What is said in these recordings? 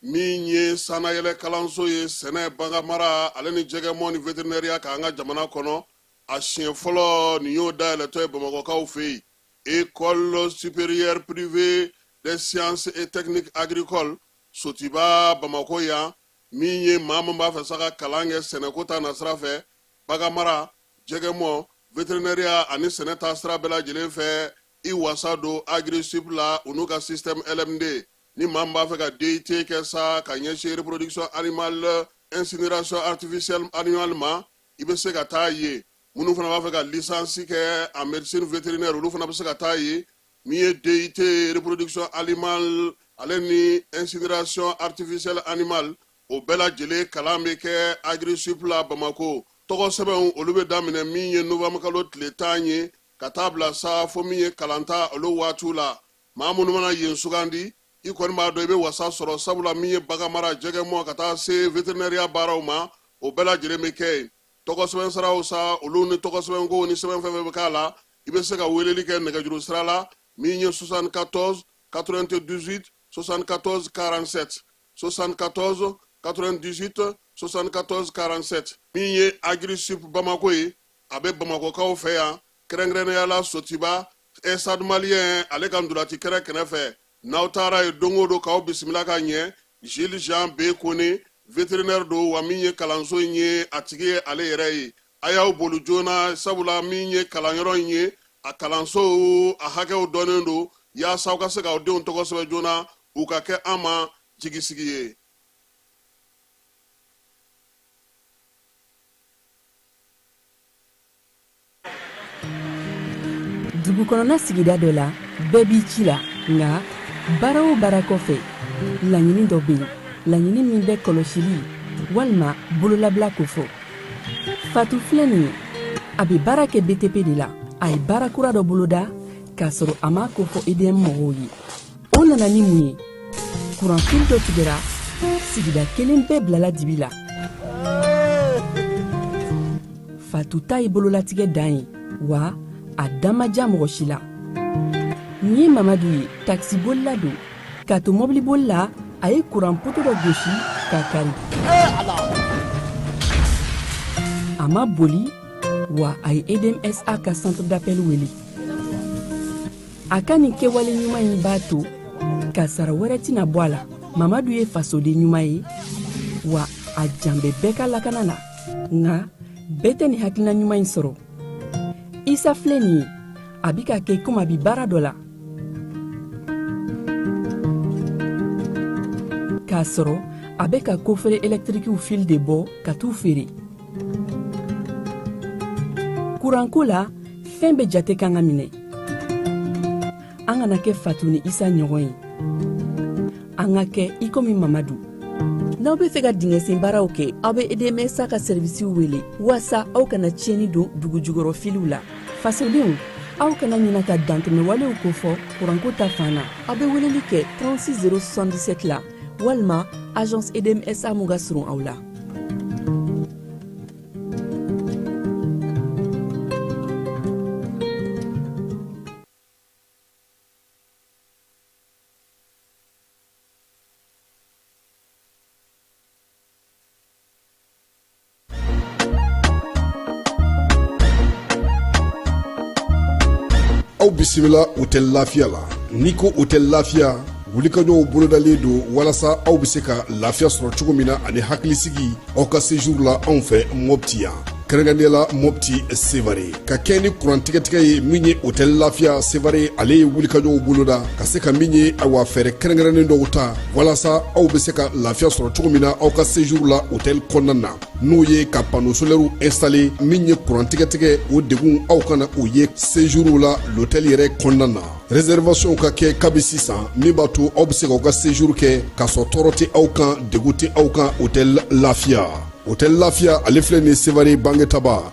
min ye sanayɛlɛ kalanso ye sɛnɛ baganmara ale ni jɛgɛmɔ ni veterinɛriya k'an ka jamana kɔnɔ a siɲɛ fɔlɔ nin y'o dayɛlɛtɔ ye bamakokaw fɛ yen école supérieure privée des sciences et techniques agricoles sotiba bamako yan min ye maa min b'a fɛ sa ka kalan kɛ sɛnɛko ta nasira fɛ baganmara jɛgɛmɔ veterinɛriya ani sɛnɛ ta sira bɛɛ lajɛlen fɛ i wasa don agri sup la u n'u ka système LMD ni maa min b'a fɛ ka DUT kɛ sa ka ɲɛsin reproduction animale incinération artificielle animale ma i bɛ se ka taa yen minnu fana b'a fɛ ka licence kɛ en médecine vétérinaire olu fana bɛ se ka taa yen min ye DUT reproduction animale ale ni incinération artificielle animale o bɛɛ lajɛlen kalan bɛ kɛ agri sup la Bamako tɔgɔsɛbɛnw olu bɛ daminɛ min ye novembre kalo tile tan ye ka taa bila sa fo min ye kalanta olu waatiw la maa minnu mana yen sugandi i kɔni b'a dɔn i bɛ wasa sɔrɔ sabula min ye baganmara jɛgɛmɔ ka taa se veterinɛriya baaraw ma o bɛɛ lajɛlen bɛ kɛ yen tɔgɔsɛbɛn saraw sa olu ni tɔgɔsɛbɛnko ni sɛbɛn fɛn fɛn bɛ k'a la i bɛ se ka weleli kɛ nɛgɛjuru sira la min ye 74 98 74 47 74 98 74 47 min ye agri sup bamako ye a bɛ bamakokaw fɛ yan kɛrɛnkɛrɛnnenya la sotiba stade malien ale ka ntolaci kɛrɛ kɛnɛ fɛ n'aw taara yen don o don k'aw bisimila ka ɲɛ jili jean b kone veterinɛri don wa min ye kalanso in ye a tigi ye ale yɛrɛ ye a y'aw boli joona sabula min ye kalanyɔrɔ in ye a kalansow a hakɛw dɔnnen don yaasa aw ka se k'aw denw tɔgɔ sɛbɛn joona u ka kɛ an ma jigisigi ye dugu kɔnɔna sigida dɔ la bɛɛ b'i ci la nka baara o baara kɔfɛ laɲini dɔ bɛ yen laɲini min bɛ kɔlɔsili walima bololabila kofɔ fatu filɛ nin ye a bɛ baara kɛ btp de la a ye baara kura dɔ boloda k'a sɔrɔ a m'a ko fɔ edm mɔgɔw ye o nana ni mun ye kuranfili dɔ tigɛra sigida kelen bɛɛ bilala dibi la fatu ta ye bololatigɛ dan ye wa a da ma diya mɔgɔ si la nin ye mamadu ye takisibolila don k'a to mɔbiliboli la a ye kuran poto dɔ gosi k'a kari a ma boli wa a ye edmsa ka centre d'appel wele a ka nin kɛwale ɲuman in b'a to kasaara wɛrɛ tɛna bɔ a la mamadu ye fasoden ɲuman ye wa a jan bɛ bɛɛ ka lakana la nka bɛɛ tɛ nin hakilina ɲuman in sɔrɔ isa filɛ nin ye a bi k'a kɛ komi a bi baara dɔ la k'a sɔrɔ a bɛ ka kofere ɛlɛtirikiw fili de bɔ ka t'u feere kuranko la fɛn bɛɛ jate kan ka minɛ an kana kɛ fatu ni isa ɲɔgɔn ye an ka kɛ i komi mamadu n'aw bɛ fɛ ka dingɛsen baaraw kɛ aw bɛ edmsa ka sɛrivisiw wele walasa aw kana tiɲɛni don dugu jukɔrɔ filiw la fasodenw aw kana ɲina ka dantɛmɛwalew kofɔ kuranko ta fan na aw bɛ weleli kɛ 36 077 la walima agence edmsa min ka surun aw la aw bisimila hotɛli lafiya la n'i ko hotɛli lafiya wulikajɔw bolodalen don walasa aw bɛ se ka lafiya sɔrɔ cogo min na ani hakilisigi aw ka sejuru la anw fɛ mɔpti yan kɛrɛnkɛrɛnnenya la mɔpti sevare ka kɛɲɛ ni kurantigɛtigɛ ye min ye hotɛli lafiya sevare ale ye wulikajɔw boloda ka se ka min ye awa fɛɛrɛ kɛrɛnkɛrɛnnen dɔw ta walasa aw be se ka lafiya sɔrɔ cogo min na aw ka sejuru la hotɛli kɔnɔna na n'o ye ka pano solɛriw ɛnstale min ye kurantigɛtigɛ o degun aw kana o ye sejuruw la lotɛli yɛrɛ kɔnɔna na rɛsɛrivasiyɔnw ka kɛ kabi sisan min b'a to aw be se k'aw ka sejuru kɛ k'a sɔrɔ tɔɔrɔ tɛ aw kan degun tɛ aw kan hotɛli lafiya hotɛli lafiya ale filɛ nin sevare bangetaba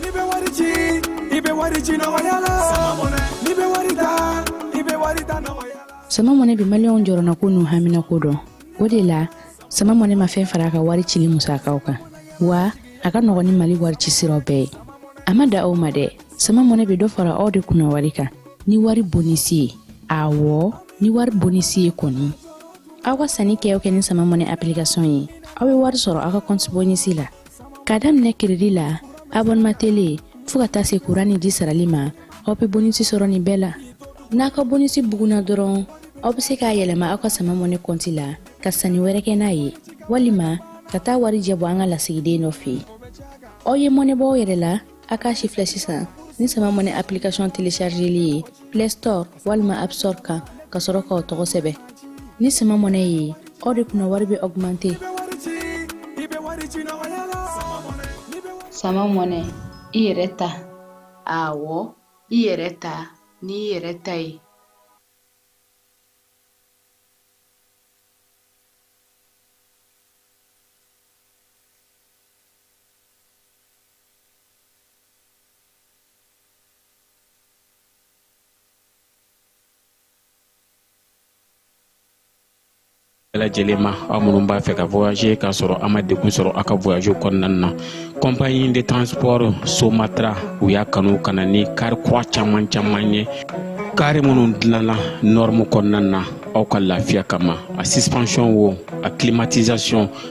N'i bɛ wari ci i bɛ wari ci nɔgɔya la n'i bɛ wari ta i bɛ wari ta nɔgɔya la. sama mɔnɛ bi maliyɛnw jɔrɔnako n'u haminako dɔn o de la sama mɔnɛ ma fɛn fara a ka wari cili musakaw kan wa a ka nɔgɔn ni mali wari ci siraw bɛɛ ye a ma dan o ma dɛ sama mɔnɛ bɛ dɔ fara aw de kunna wari kan ni wari bonisi ye awɔ ni wari bonisi ye kɔni aw ka sanni kɛ o kɛ ni sama mɔnɛ application ye aw bɛ wari sɔrɔ aw ka kɔnti bonisi la k'a daminɛ kiridi la abɔnema tele fɔɔ ka taa se kuran ni ji sarali ma aw be bonisi sɔrɔ nin bɛɛ la n'aw ka bonisi buguna dɔrɔn aw be se k'a yɛlɛma aw ka sama mɔne kɔnti la ka sanni wɛrɛ kɛ n'a ye walima ka taa warijɛ bɔ an ka lasigiden dɔ fɛ aw ye mɔnɛ bɔ aw yɛrɛ la a k'a sifilɛ sisan ni sama money application téléchargeli ye play store walima app store kan ka sɔrɔ k'aw tɔgɔ sɛbɛn ni sama money ye aw de kunna wari bɛ augmenter sama money i yɛrɛ ta awɔ i yɛrɛ ta n'i yɛrɛ ta ye lajɛlen ma aw minnu b'a fɛ ka voyager k'a sɔrɔ a ma degun sɔrɔ a ka voyage kɔnɔna na compagnie de transport somatra u y'a kanu ka na ni kari kura caman caman ye kari minnu dilanna norme kɔnɔna na aw ka lafiya kama a suspension wo a climatisation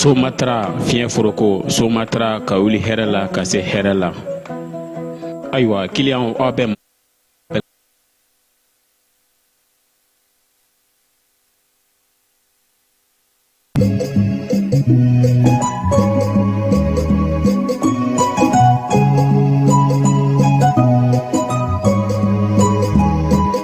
somatra fiɲɛ foroko somatra ka wuli hɛrɛ la ka se hɛrɛ la ayiwa kiliyan aw bɛ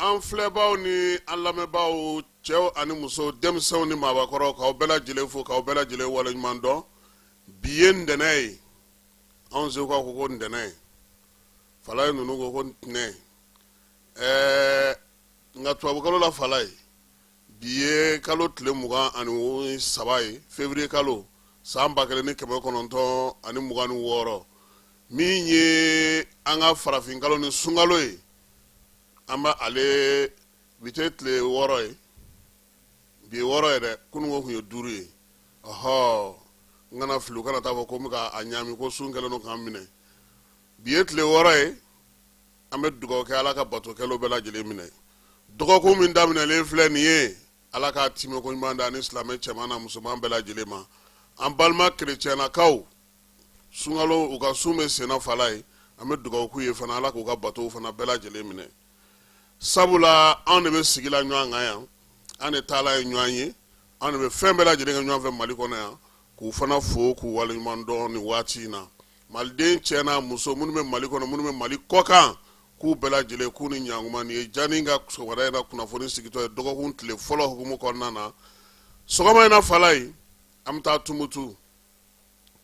An filɛbaw ni an lamɛnbaaw cɛw ani muso denmisɛnw ni maabakɔrɔ k'aw bɛɛ lajɛlen fo k'aw bɛɛ lajɛlen waleɲuman dɔn bi ye ntɛnɛn ye anw segukaw ko ko ntɛnɛn fala ye ninnu ko ko ntɛnɛn ɛɛ nka tubabukalo la fala ye bi ye kalo tile mugan ani saba ye fevriye kalo san ba kelen ni kɛmɛ kɔnɔntɔn ani mugan ni wɔɔrɔ min ye an ka farafinkalo ni sunkalo ye an bɛ ale bi tɛ tile wɔɔrɔ ye bi ye wɔɔrɔ ye dɛ kununko tun ye duuru ye ɔhɔ n kana fili u kana taa fɔ ko n bɛ ka a ɲaami ko sun kɛlen don k'an minɛ bi ye tile wɔɔrɔ ye an bɛ dugawu kɛ ala ka bato kɛlenw bɛɛ lajɛlen minɛ dɔgɔkun min daminɛlen filɛ nin ye ala k'a timɛko ɲuman d'an ni silamɛ cɛman n'a musoman bɛɛ lajɛlen ma an balima kerecɛnnakaw sunkalo u ka sun bɛ senna fala ye an bɛ dugawu k'u ye fana ala k'u ka batow fana bɛɛ lajɛlen minɛ sabula anw de bɛ sigi la ɲɔgɔn kan yan an de taala ye ɲɔgɔn ye anw de bɛ fɛn bɛɛ lajɛlen kɛ ɲɔgɔn fɛ mali kɔnɔ yan k'u fana fo k'u waleɲuman dɔn ni waati in na maliden cɛ n'a muso minnu bɛ mali kɔnɔ minnu bɛ mali kɔkan k'u bɛɛ lajɛlen k'u ni ɲakuma nin ye jani ka sɔgɔmada in na kunnafoni sigitɔ ye dɔgɔkun tile fɔlɔ hukumu kɔnɔna na sɔgɔma in na fala ye an bɛ taa tumutu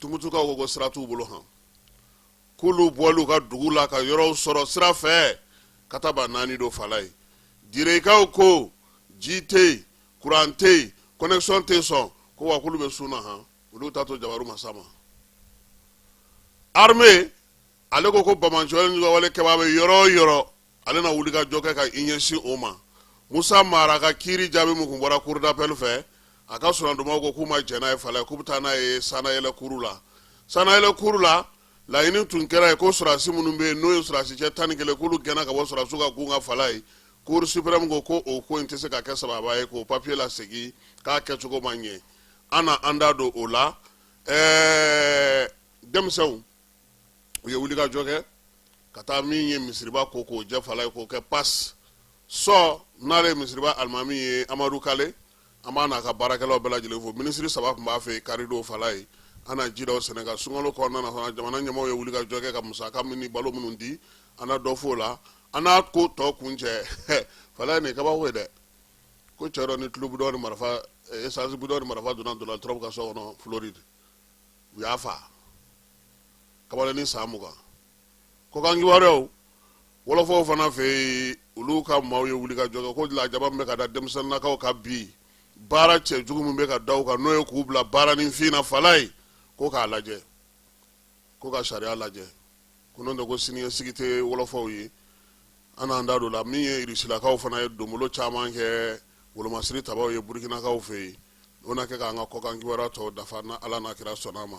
tumutukaw ko sira t'u bolo han k'olu bɔli u ka dugu la ka yɔrɔw sɔrɔ sira fɛ ka taaba naani don fala ye direkaw ko ji tɛ yen kuran tɛ yen connexion tɛ sɔn ko wa k'olu bɛ sun na han olu t'a to jabaru masa ma armée ale ko ko bamanjɔlen ni wale kɛbaa bɛ yɔrɔ o yɔrɔ ale na wuli ka jɔ kɛ ka i ɲɛsin o ma musa mara ka kiiri jaabi min tun bɔra cour d'appel fɛ a ka soronadonnaw ko k'u ma jɛn n'a ye fala ye k'u bɛ taa n'a ye sanayɛlɛ kuru la sanayɛlɛ kuru la laɲini tun kɛra yen ko sɔrɔdasi minnu bɛ yen n'o ye sɔrɔdasi cɛ tan ni kelen k'olu gɛnna ka bɔ sɔrɔdasiw ka gun kan fala ye cour suprême ko ko o ko in tɛ se ka kɛ sababa ye k'o papiye lasegin k'a kɛcogo ma ɲɛ an na an da don o la ɛɛ denmisɛnw u ye wuli ka jɔ kɛ ka taa min ye misiriba ko k'o jɛ fala ye k'o kɛ pas sɔ n'ale ye misiriba alimami ye amadu kale an b'a n'a ka baarakɛlaw bɛɛ lajɛlen fo minisiri saba tun b'a fɛ karidon fala ye an na ji da o sɛnɛ kan sunkalo kɔnɔna na fana jamana ɲɛmaaw ye wuli ka jɔ kɛ ka musaka min ni balo minnu di an na dɔ f'o la an n'a ko tɔ kuncɛ fala ye nin kabako ye dɛ ko cɛ dɔ ni tulu bidɔn ni marifa eh, esansi bidɔn ni marifa donna donald trump ka so kɔnɔ floride u y'a fa kamalen ni san mugan kɔkan kibaruyaw wɔlɔfɔw fana fɛ yen olu ka maaw ye wuli ka jɔ kɛ ko lajaba min bɛ ka da denmisɛnninnakaw ka bi baara cɛjugu min bɛ ka da u kan n'o ye k'u bila baara nifin na fala ye ko k'a lajɛ ko ka sariya lajɛ ko n'o tɛ ko siniɲɛsigi tɛ wɔlɔfɔw ye an n'an da don la min ye irisilakaw fana ye donbolo caman kɛ wolomasiri tabaw ye burukinakaw fɛ yen o na kɛ k'an ka kɔkan kibaruya tɔw dafa na ala n'a kira sɔnna a ma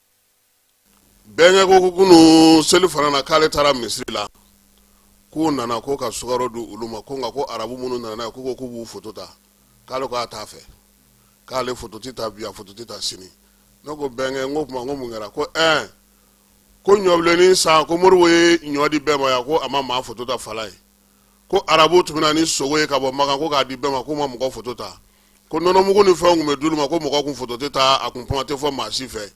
bɛnkɛ ko kunu selifana na k'ale taara misiri la k'u nana ko ka sukaro di olu ma ko nka ko arabu minnu nana n'a ye k'u ko k'u b'u foto ta k'ale k'a t'a fɛ k'ale foto tɛ ta bi a foto tɛ ta sini ne ko bɛnkɛ n ko tuma ko mun kɛra ko ɛɛ ko ɲɔbilennin san ko modibo ye ɲɔ di bɛɛ ma yan ko a ma maa foto ta fala ye ko arabu tun bɛ na ni sogo ye ka bɔ makan ko k'a di bɛɛ ma k'u ma mɔgɔ foto ta ko nɔnɔmugu ni fɛnw tun bɛ d'olu ma ko mɔgɔ kun foto tɛ ta a kun kuma tɛ fɔ maa si fɛ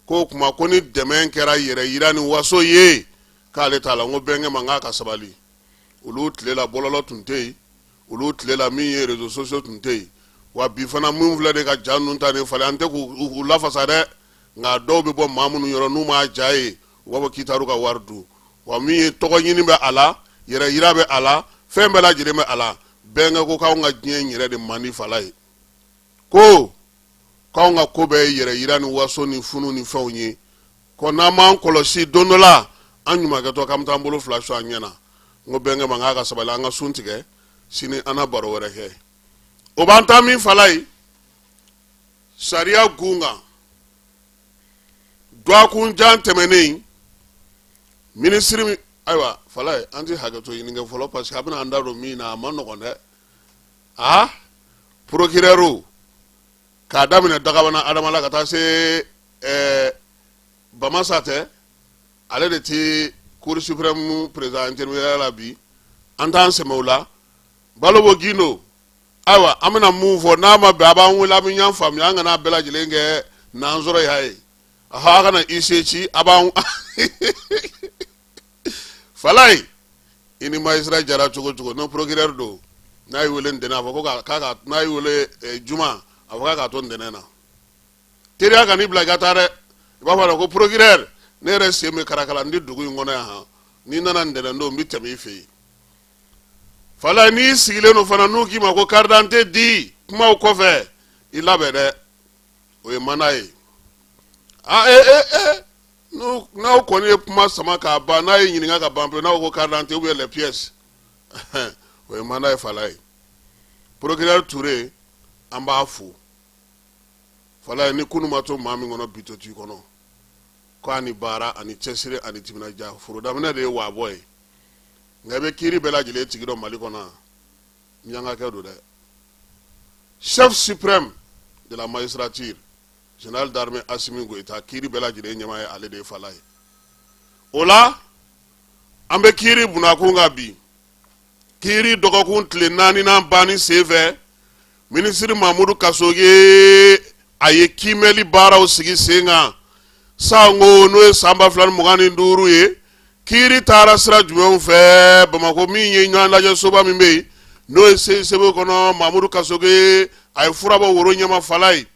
ko o tuma ko ni dɛmɛ kɛra yɛrɛyira ni waso ye k'ale t'a la n ko bɛnkɛ ma n k'a ka sabali olu tile la bɔlɔlɔ tun tɛ yen olu tile la min ye réseaux sociaux tun tɛ yen wa bi fana minnu filɛ de ka ja ninnu ta nin falen an tɛ k'u lafasa dɛ nka dɔw bɛ bɔ maa minnu yɔrɔ n'u m'a ja ye u b'a fɔ k'i taar'u ka wari dun wa min ye tɔgɔ ɲini bɛ a la yɛrɛ yira bɛ a la fɛn bɛɛ lajɛlen bɛ a la bɛnkɛ ko k'anw ka diɲɛ in yɛrɛ de man di Falaye ko k'anw ka ko bɛɛ ye yɛrɛ yira ni waso ni funu ni fɛnw ye ko n'an m'an kɔlɔsi don dɔ la an ɲumankɛtɔ k'an bɛ taa an bolo fila su an ɲɛ na n ko bɛnkɛ ma k'a ka sabali an ka sun tigɛ sini an na baro wɛrɛ kɛ o b'an taa min Falaye sariya gun kan dɔgɔkun jan tɛmɛnen minisiri min ayiwa Falaye an ti hakɛto ɲini kɛ fɔlɔ parce que a bɛna an da don min na a man nɔgɔn dɛ a procureur k'a daminɛ dagabana adama la ka taa se ɛɛ bamasa tɛ ale de ti cour suprême président intérimaire la bi an t'an sɛmɛ o la balobo gindo ayiwa an bɛna mun fɔ n'a ma bɛn a b'an wele an bɛ ɲɔgɔn faamuya an kana bɛɛ lajɛlen kɛ n'an sɔrɔ y'a ye ahan a kana i se ci a b'an Falaye i ni magistrat diyara cogo o cogo n'o procureur don n'a y'i wele ntɛnɛn a fɔ ko k'a ka n'a y'i wele eh, juma a fɔ k'a k'a to ntɛnɛn na teriya kan'i bila i ka taa dɛ i b'a fɔ a la ko procureur ne yɛrɛ sen bɛ karakala n tɛ dugu in kɔnɔ yan han ni n nana ntɛnɛn don n bɛ tɛmɛ i fɛ yen Falaye n'i sigilen don fana n'u k'i ma ko karidante di kumaw kɔfɛ i labɛn dɛ o ye mana ye a e e e n'aw kɔni ye kuma sama k'a ban n'a y'i ɲininka ka ban pewu n'aw ko karidante ou bien les pièces o ye mana ye Falaye procureur Toure an b'a fo Falaye ni kunun ma to maa min kɔnɔ bi to t'i kɔnɔ ko a ni baara a ni cɛsiri a ni timinandiya foro daminɛ de ye waabɔ ye nka i bɛ kiri bɛɛ lajɛlen tigi dɔn Mali kɔnɔ minyankakɛ don dɛ chef suprême de la magistrature général d'armée Assimi Goïta kiri bɛɛ lajɛlen ɲɛmaa ye ale de ye Falaye o la an bɛ kiri bunakun kan bi kiri dɔgɔkun tile naaninan banni senfɛ Minisiri Mamudu Kasoge a ye kiimɛli baaraw sigi sen kan san ko n'o ye san 2025 ye kiiri taara sira jumɛnw fɛ Bamakɔ min ye ɲɔgɔn lajɛ soba min bɛ yen n'o ye CICB kɔnɔ Mamudu Kasoge a ye fura bɔ woro ɲɛma Falaye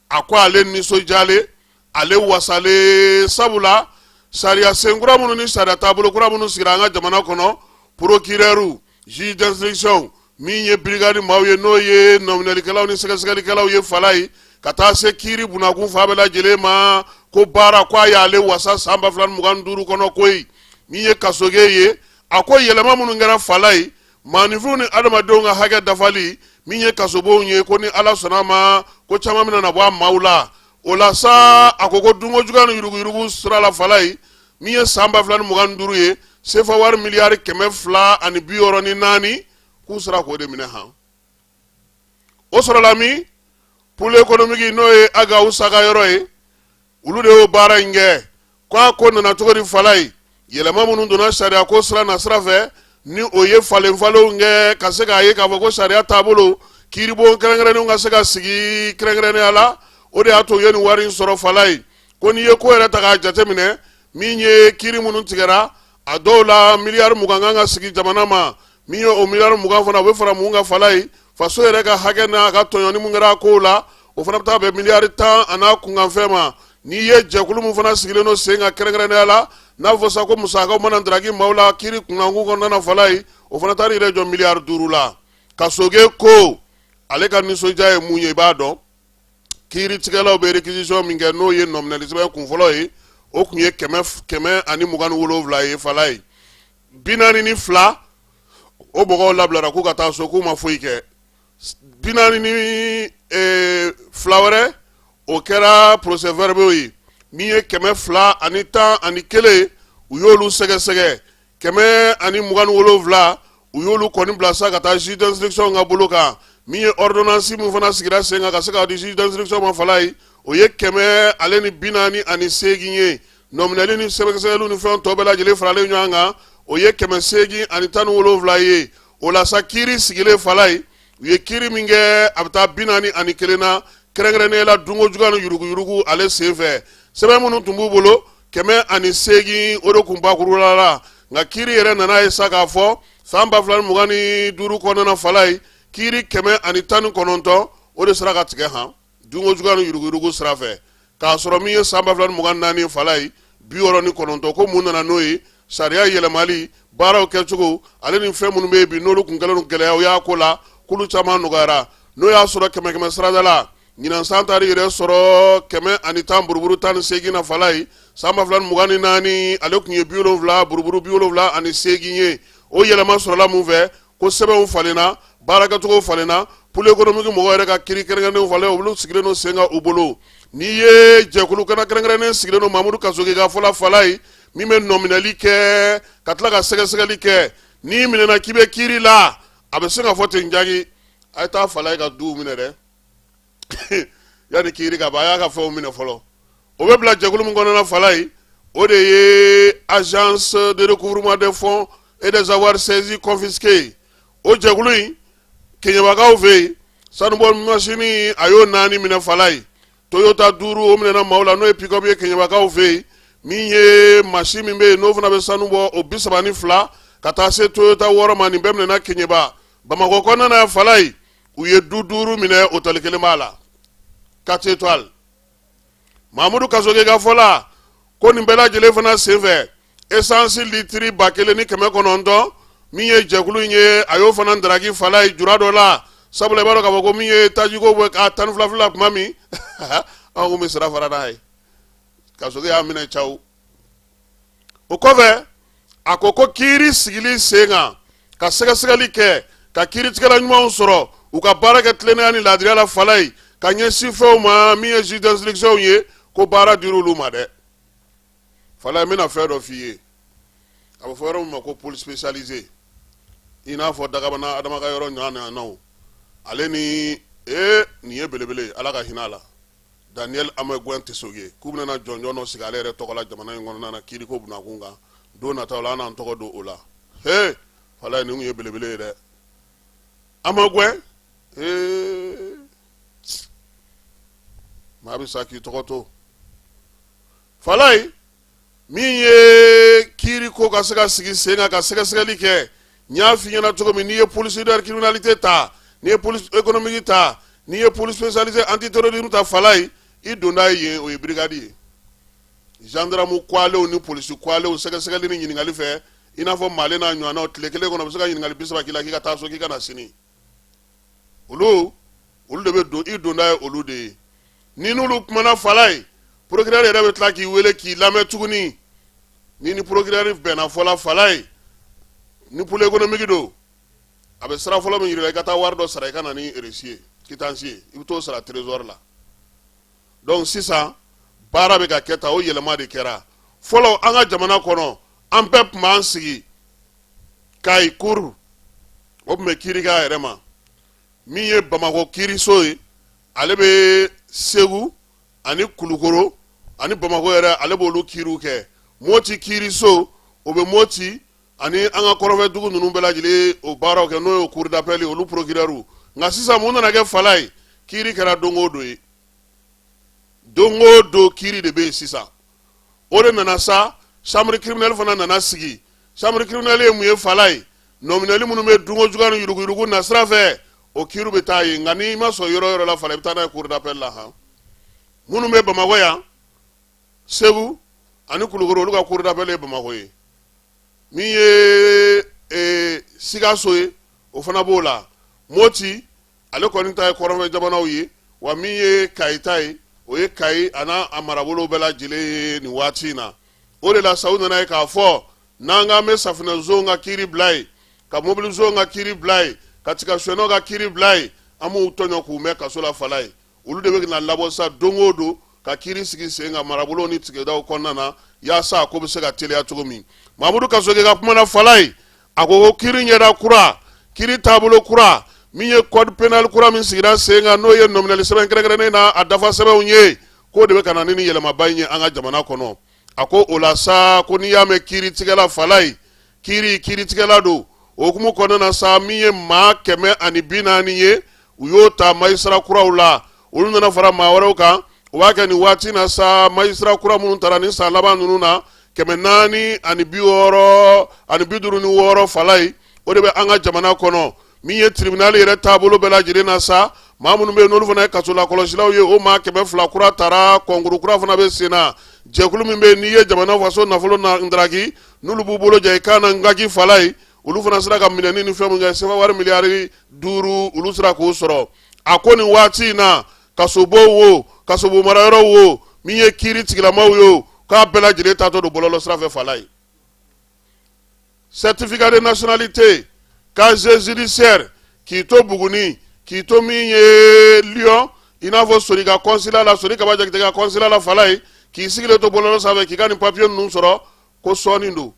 a ko ale nisɔndiyalen ale wasalen sabula sariya sen kura minnu ni sariya taabolo kura minnu sigira an ka jamana kɔnɔ procureur Juge d'instruction min ye brigade maaw ye n'o ye nɔminɛlikɛlaw ni sɛgɛsɛgɛlikɛlaw ye Falaye ka taa se kiiri bunakun fan bɛɛ lajɛlen ma ko baara ko a y'ale wasa san ba fila ni mugan ni duuru kɔnɔ koyi min ye kasoge ye a ko yɛlɛma minnu kɛra Falaye maaninfinw ni adamadenw ka hakɛ dafali min ye kasobonw ye ko ni ala sɔnna a ma ko caman bɛna na bɔ a maaw la o la sa a ko ko dunko juguya ni yuruguyurugu sira la Falaye min ye san ba fila ni mugan ni duuru ye sefa wari miliyari kɛmɛ fila ani bi wɔɔrɔ ni naani k'u sera k'o de minɛ han o sɔrɔla min pôle économique n'o ye ag houssa ka yɔrɔ ye olu de y'o baara in kɛ ko a ko nana cogo di falaye yɛlɛma minnu donna sariya ko sira na sira fɛ ni o ye falenfalenw kɛ ka se k'a ye k'a fɔ ko sariya taabolo kiiribon kɛrɛnkɛrɛnnenw ka se ka sigi kɛrɛnkɛrɛnnenya la o de y'a to u ye nin wari in sɔrɔ falaye ko n'i ye ko yɛrɛ ta k'a jateminɛ min ye kiiri minnu tigɛra a dɔw la miliyari mugan kan ka segin jamana ma min ye o miliyari mugan fana o bɛ fara mun kan falaye faso yɛrɛ ka hakɛ n'a ka tɔɲɔni mun kɛra a kow la o fana bɛ taa bɛn miliyari tan an'a kunkanfɛn ma n'i ye jɛkulu min fana sigilen don sen kan kɛrɛnkɛrɛnnenya la n'a fɔ sa ko musakaw mana ndaraki maaw la kiiri kunkankun kɔnɔna na falaye o fana taara yɛrɛ jɔ miliyari duuru la kasoge ko ale ka nisɔndiya ye mun ye i b'a dɔn kiiritigɛlaw bɛ réquisition min kɛ n'o ye nɔminɛli sɛbɛn kunfɔlɔ ye o tun ye kɛmɛ kɛmɛ ani mugan ni wolonwula ye falaye bi naani ni fila o mɔgɔw labilara k'u ka taa so k'u ma foyi kɛ bi naani ni eh, fila wɛrɛ o kɛra procès verbaux ye min ye kɛmɛ fila ani tan ani kelen u y'olu sɛgɛsɛgɛ kɛmɛ ani mugan ni wolonwula u y'olu kɔni bila sa ka taa juge d'instruction ka bolo kan min ye ordonnance min fana sigira sen kan ka se ka di juge d'instruction ma falaye o ye kɛmɛ ale ni bi naani ani seegin ye nɔminɛli ni sɛgɛsɛgɛliw ni fɛn tɔ bɛɛ lajɛlen faralen ɲɔgɔn kan o ye kɛmɛ seegin ani tan ni wolonwula ye o la sa kiiri sigilen falaye u ye kiiri min kɛ a bɛ taa bi naani ani kelen na kɛrɛnkɛrɛnnenya la dunko juguya ni yuruguyurugu ale sen fɛ sɛbɛn minnu tun b'u bolo kɛmɛ ani seegin o de tun bakurula la nka kiiri yɛrɛ nana ye sa k'a fɔ san ba fila ni mugan ni duuru kɔnɔna falaye kiiri kɛmɛ ani tan ni kɔnɔntɔn o de sera ka tigɛ han dunko juguya ni yuruguyurugu sira fɛ k'a sɔrɔ min ye san ba fila ni mugan ni naani falaye bi wɔɔrɔ ni kɔnɔntɔn ko mun nana n'o ye sariya yɛlɛmali baaraw kɛcogo ale ni fɛn minnu bɛ yen bi n'olu tun kɛlen don gɛlɛyaw y'a ko la k'olu caman nɔgɔyara n'o y'a sɔrɔ kɛmɛ kɛmɛ sarada la ɲinan san taara yɛrɛ sɔrɔ kɛmɛ ani tan buruburu tan ni seegin na falaye san ba fila ni mugan ni naani ale tun ye bi wolonwula buruburu bi wolonwula ani seegin ye o yɛlɛma sɔrɔla mun fɛ ko sɛbɛnw falenna baarakɛcogo falenna pôle économique mɔgɔw yɛrɛ ka kiiri kɛrɛnkɛrɛnnenw falen olu sigilen don sen kan u bolo n'i ye jɛkulu kana kɛrɛnkɛrɛnnen sigilen don mamudu kasoge ka fɔ la falaye min bɛ nɔminɛli kɛ ka tila ka sɛgɛsɛgɛli kɛ n'i minɛna k'i bɛ kiiri la a bɛ se ka fɔ ten jaki a ye taa falaye ka duw minɛ dɛ yanni kiri ka ban a y'a ka fɛnw minɛ fɔlɔ o bɛ bila jɛkulu min kɔnɔna falayi o de ye agence de recouvrement des fonds et des avoirs saisis confisqués o jɛkulu in keɲɛbakaw fɛ yen sanubɔ masini a y'o naani minɛ falayi toyota duuru o minɛna maaw la n'o ye pickup ye keɲɛbakaw fɛ yen min ye masini min bɛ yen n'o fana bɛ sanu bɔ o bi saba ni fila ka taa se toyota wɔɔrɔ ma nin bɛɛ minɛna keɲɛba bamakɔ kɔnɔna na falayi u ye du duuru minɛ otɛli kelen b'a la quatre étoiles mamudu kasoge ka fɔ la ko nin bɛɛ lajɛlen fana senfɛ esansi litiri ba kelen ni kɛmɛ kɔnɔntɔn min ye jɛkulu in ye a y'o fana daraki falayi jura dɔ la sabula i b'a dɔn k'a fɔ ko min ye tajiko bɛ k'a tan ni fila fila kuma min an kun bɛ sira fara n'a ye kasoge y'a minɛ caw o kɔfɛ a ko ko kiri sigili sen kan ka sɛgɛsɛgɛli kɛ ka kiritigɛla ɲumanw sɔrɔ u ka baara kɛ tilennenya ni laadiriya la falayi ka ɲɛsin fɛnw ma min ye juge d'instruction ye ko baara dira olu ma dɛ falayi n bɛna fɛn dɔ f'i ye a bɛ fɔ yɔrɔ min ma ko pôle spécialisé i n'a fɔ dagabana adama ka yɔrɔ ɲɔgɔnnaw ale ni ee nin ye belebele ala ka hinɛ a la Daniel Amagoin Tessougué k'u bɛna jɔnjɔn dɔ sigi ale yɛrɛ tɔgɔ la jamana in kɔnɔna na kiiriko bunda kun kan don nataw la an n'an tɔgɔ don o la e falayi nin kun ye belebele ye dɛ Amagoin maa bɛ sa k'i tɔgɔ to falayi min ye kiri ko ka se ka sigi sen kan ka sɛgɛsɛgɛli kɛ n y'a f'i ɲɛna cogo min n'i ye pôle cybercriminalité ta n'i ye police économique ta n'i ye pôle spécialisé antiterrorisme ta falayi i donda ye yen o ye birigadi ye zandaramu kuwalew ni polisi kuwalew sɛgɛsɛgɛli ni ɲininkali fɛ i n'a fɔ male n'a ɲɔgɔnnaw tile kelen kɔnɔ bɛ se ka ɲininkali bi saba k'i la k'i ka taa so k'i ka na sini olu olu de bɛ don i donda ye olu de ye ni n'olu kumana falayi porokirɛri yɛrɛ bɛ tila k'i wele k'i lamɛn tuguni ni ni porokirɛri bɛnna fɔla falayi ni pôle économique don a bɛ sira fɔlɔ min yir'i la i ka taa wari dɔ sara i ka na ni eresi ye kitansi ye i bɛ t'o sara trezɔri la donc sisan baara bɛ ka kɛ tan o yɛlɛma de kɛra fɔlɔ an ka jamana kɔnɔ an bɛɛ tun b'an sigi kayi cour o tun bɛ kiri k'a yɛrɛ ma min ye bamakɔ kiriso ye ale bɛ segu ani kulukoro ani bamakɔ yɛrɛ ale b'olu kiriw kɛ moti kiriso o bɛ moti ani an ka kɔrɔfɛ dugu ninnu bɛɛ lajɛlen o baaraw kɛ n'o ye cour d'appel ye olu porokirɛriw nka sisan mun nana kɛ falayi kiri kɛra don o don ye don o don kiri de bɛ yen sisan o de nana sa chambre criminelle fana nana sigi chambre criminelle ye mun ye falayi nɔminɛli minnu bɛ dunko juguya ni yuruguyurugu nasira fɛ o kiiri bɛ taa yen nka n'i ma sɔn yɔrɔ yɔrɔ la fana i bɛ taa n'a ye cour d'appel la han minnu bɛ bamakɔ yan segu ani kulukoro olu ka cour d'appel ye bamakɔ ye min ye ee, sikaso ye o fana b'o la moti ale kɔni ta ye kɔrɔnfɛ jamanaw ye wa min ye kayi ta ye o ye kayi a n'a a marabolo bɛɛ lajɛlen ye nin waati in na o de la sa u nana ye k'a fɔ n'an k'an bɛ safinɛzon ka kiri bila yen ka mobilizon ka kiri bila yen ka tigasonɔ ka kiri bila yen an b'u tɔɲɔ k'u mɛn kaso la falayi olu de bɛ na labɔ sa don o don ka kiri sigi sen kan marabolo ni tigɛdaw kɔnɔna na yaasa a ko bɛ se ka teliya cogo min mamudu kasoge ka kuma na falayi a ko ko kiri ɲɛda kura kiri taabolo kura min ye code pénal kura min sigira sen kan n'o ye nɔminɛli sɛbɛn kɛrɛnkɛrɛnnen n'a dafa sɛbɛnw ye k'o de bɛ ka na ni nin yɛlɛmaba in ye an ka jamana kɔnɔ a ko o la sa ko n'i y'a mɛn kiiritigɛla falayi kiri kiritigɛla don o hukumu kɔnɔna na sa min ye maa kɛmɛ ani bi naani ye u y'o ta magistrat kuraw la olu nana fara maa wɛrɛw kan o b'a kɛ nin waati na sa magistrat kura minnu taara ni san laban ninnu na kɛmɛ naani ani bi wɔɔrɔ ani bi duuru ni wɔɔrɔ falayi o de bɛ an ka jamana kɔnɔ min ye tribunal yɛrɛ taabolo bɛɛ lajɛlen na sa maa minnu bɛ yen n'olu fana ye kasolakɔlɔsilaw ye o maa kɛmɛ fila kura taara kɔnkuru kura fana bɛ sen na jɛkulu min bɛ yen n'i ye jamana faso nafolo ndaraki n'olu b'u bolo jɛ i kan na ngaki falayi olu fana sera ka minɛni ni fɛn min kɛ sefa wari miliyari duuru olu sera k'o sɔrɔ a ko nin waati in na kasobonw wo kasobon marayɔrɔw wo min ye kiiri tigilamaw ye k'a bɛɛ lajɛlen taatɔ don bɔlɔlɔ sira fɛ falayi certificat de nationalité casier judiciaire k'i to Buguni k'i to min ye Lyon i n'a fɔ Sori ka consulat la Sori Kaba Jakite ka consulat la Falayi k'i sigilen to bɔlɔlɔ sanfɛ k'i ka nin papier ninnu sɔrɔ ko sɔɔni don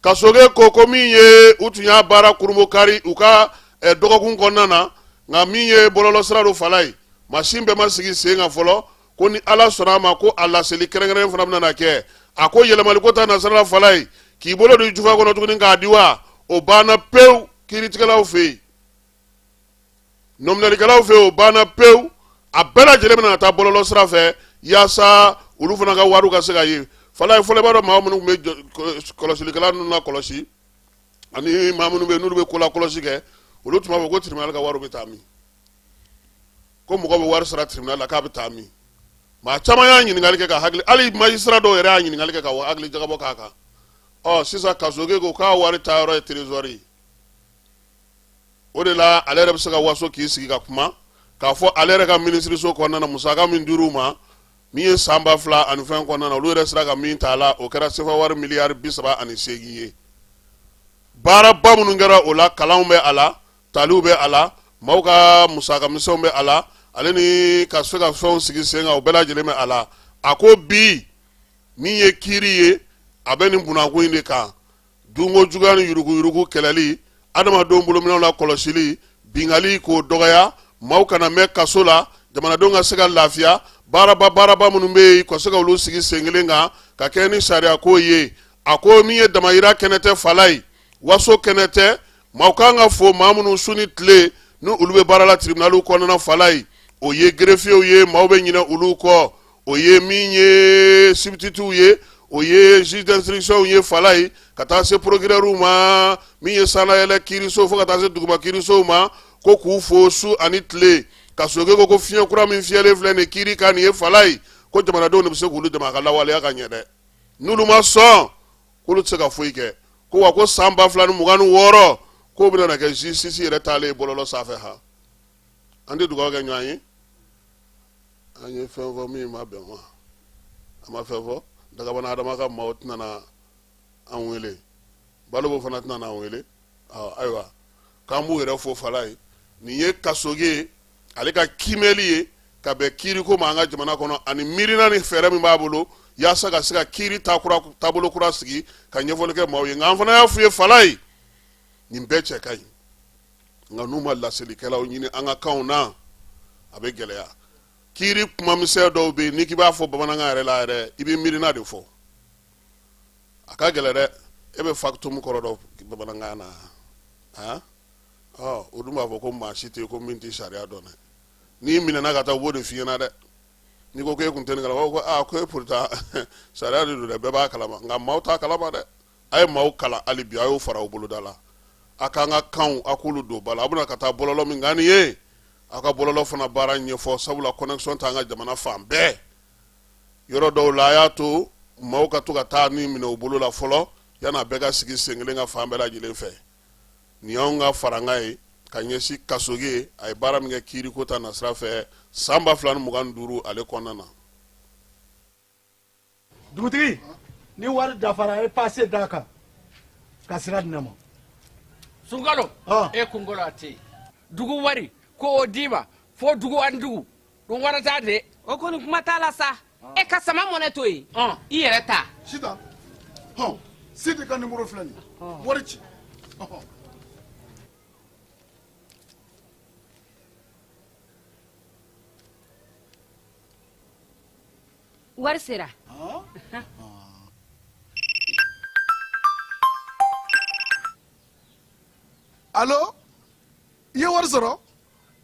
Kasoge ko ko min ye u tun y'a baara kurunbonkari u ka eh, dɔgɔkun kɔnɔna na nka min ye bɔlɔlɔ sira don Falayi masin bɛɛ ma sigi sen kan fɔlɔ ko ni ala sɔnna a ma ko a laseli kɛrɛnkɛrɛnnen fana bɛna kɛ a ko yɛlɛmaliko ta nasira la falayi k'i bolo don jufa kɔnɔ tuguni k'a di wa o banna pewu kiiritigɛlaw fɛ yen nɔminɛlikɛlaw fɛ yen o banna pewu a bɛɛ lajɛlen bɛna taa bɔlɔlɔ sira fɛ yaasa olu fana ka wariw ka se ka ye falayi fɔlɔ i b'a dɔn maa minnu bɛ kɔlɔsilikɛla ninnu na kɔlɔsi ani maa minnu bɛ yen n'olu bɛ kola kɔlɔsi kɛ olu tun b'a fɔ ko tribunal ka wariw bɛ taa min ko mɔgɔ bɛ wari sara tribunal la k'a bɛ taa min maa caman y'a ɲininkali kɛ ka hakili hali magistrat dɔw yɛrɛ y'a ɲininkali kɛ ka hakili jagabɔ k'a kan ɔ sisan kasoge ko k'a wari taa yɔrɔ ye trésori ye o de la ale yɛrɛ bɛ se ka waso k'i sigi ka kuma k'a fɔ ale yɛrɛ ka minisiriso kɔnɔna na musaka min dir'u ma min ye san ba fila ani fɛn kɔnɔna na olu yɛrɛ sera ka min ta a la o kɛra sefa wari miliyari bi saba ani seegin ye baaraba minnu kɛra o la kalanw bɛ a la taliw bɛ a la maaw ka musaka misɛnw bɛ a la ale ni ka se ka fɛnw sigi sen kan o bɛɛ lajɛlen bɛ a la a ko bi min ye kiiri ye a bɛ nin bunakun in de kan dunko juguya ni yuruguyurugu kɛlɛli adamadenw bolominɛw la kɔlɔsili bingali k'o dɔgɔya maaw kana mɛn kaso la jamanadenw ka se ka lafiya baaraba baaraba minnu bɛ yen ka se ka olu sigi sen kelen kan ka kɛ ni sariyako ye a ko min ye damayira kɛnɛ tɛ fala ye waso kɛnɛ tɛ maaw kan ka fo maa minnu su ni tile ni olu bɛ baara la tiribinaliw kɔnɔna fala ye o ye gerefiyew ye maaw bɛ ɲinɛ olu kɔ o ye min ye sibititiw ye o ye juge d'instructionw ye fala ye ka taa se procureurw ma min ye sanayɛlɛ kiirisow fo ka taa se duguma kiirisow ma ko k'u fo su ani tile kasoge ko ko fiɲɛ kura min fiyɛlen filɛ nin kiiri kan nin ye fala ye ko jamanadenw de bɛ se k'olu dɛmɛ a ka lawaleya ka ɲɛ dɛ n'olu ma sɔn k'olu tɛ se ka foyi kɛ ko wa ko san ba fila ni mugan ni wɔɔrɔ k'o bɛna na kɛ justice yɛrɛ taalen bɔlɔlɔ sanfɛ ha an tɛ dugawu kɛ ɲɔgɔn ye an ye fɛn fɔ min ma bɛn ma a ma fɛn fɔ dagabana adama ka maaw tɛna na an wele balobo fana tɛna na an wele ayiwa k'an b'u yɛrɛ fo fala ye nin ye kasoge ye ale ka kiimɛli ye ka bɛn kiiriko ma an ka jamana kɔnɔ ani miirina ni fɛɛrɛ min b'a bolo yaasa ka se ka kiiri taabolo kura sigi ka ɲɛfɔli kɛ maaw ye nka an fana y'a f'u ye fala ye nin bɛɛ cɛ ka ɲi nka n'u ma laselikɛlaw ɲini an ka kanw na a bɛ gɛlɛya kiiri kumamisɛn dɔw bɛ yen n'i k'i b'a fɔ bamanankan yɛrɛ la yɛrɛ i bɛ miirina de fɔ a ka gɛlɛn dɛ e bɛ factum kɔrɔ dɔn bamanankan na o dun b'a fɔ ko maa si tɛ yen ko min tɛ sariya dɔn dɛ n'i minɛna ka taa u b'o de f'i ɲɛna dɛ n'i ko e tun tɛ nin kalama ko e pourtant sariya de don dɛ bɛɛ b'a kalama nka maaw t'a kalama dɛ a ye maaw kalan hali bi a y'o fara u boloda la a k'an ka kanw a k'olu don ba la a bɛna ka taa bɔlɔlɔ min kan nin ye a ka bɔlɔlɔ fana baara ɲɛfɔ sabula connexion t'an ka jamana fan bɛɛ yɔrɔ dɔw la a y'a to maaw ka to ka taa ni minɛ u bolo la fɔlɔ yan'a bɛɛ ka sigi sen kelen ka fan bɛɛ lajɛlen fɛ nin y'an ka farankan ye ka ɲɛsin kassogué a ye baara min kɛ kiiriko ta nasira fɛ san ba fila ni mugan ni duuru ale kɔnɔna na dugutigi ni wari dafara a ye pase d'a kan ka sira di ne ma sunkalo e kunkolo a tɛ yen dugu wari ko o d'i ma fo dugu ani dugu don wari ta dɛ o kɔni kuma t'a la sa e ka sama mɔnɛ to yen i yɛrɛ ta sita hɔn sidi ka nimoro filɛ nin wari ci wari sera alo i ye wari sɔrɔ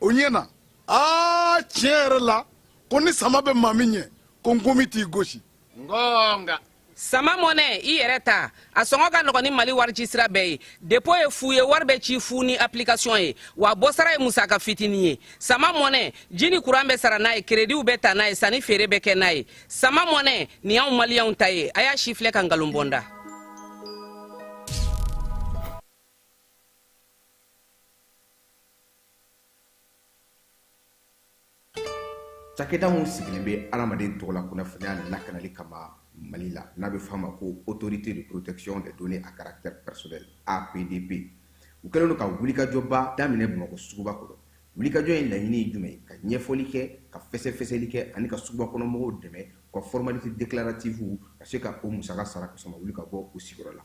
o ɲɛna aa tiɲɛ yɛrɛ la ko ni sama bɛ maa min ɲɛ ko nkɔmi t'i gosi ngɔnga sama mɔnɛ i yɛrɛ ta a sɔngɔ ka nɔgɔn ni mali warici sira bɛɛ ye depo ye fu ye wari bɛ ci fu ni application ye wa bɔsara ye musaka fitinin ye sama mɔnɛ ji ni kuran bɛ sara n'a ye kerediw bɛ ta n'a ye sanni feere bɛ kɛ n'a ye sama mɔnɛ nin y'anw maliyɛnw ta ye a y'a sifilɛ ka nkalon bɔ n da cakɛda min sigilen bɛ adamaden tɔgɔla kunnafoniya lakanali kama mali la n'a bɛ f'a ma ko autorité de protection des données à caractère personnel apdp u kɛlen don ka wulikajɔba daminɛ bamakɔ suguba kɔnɔ wulikajɔ in laɲini ye jumɛn ye ka ɲɛfɔli kɛ ka fɛsɛfɛsɛli kɛ ani ka suguba kɔnɔmɔgɔw dɛmɛ u ka formalité déclarative u ka se ka o musaka sara k'a sɔrɔ u ma wuli ka bɔ u sigiyɔrɔ la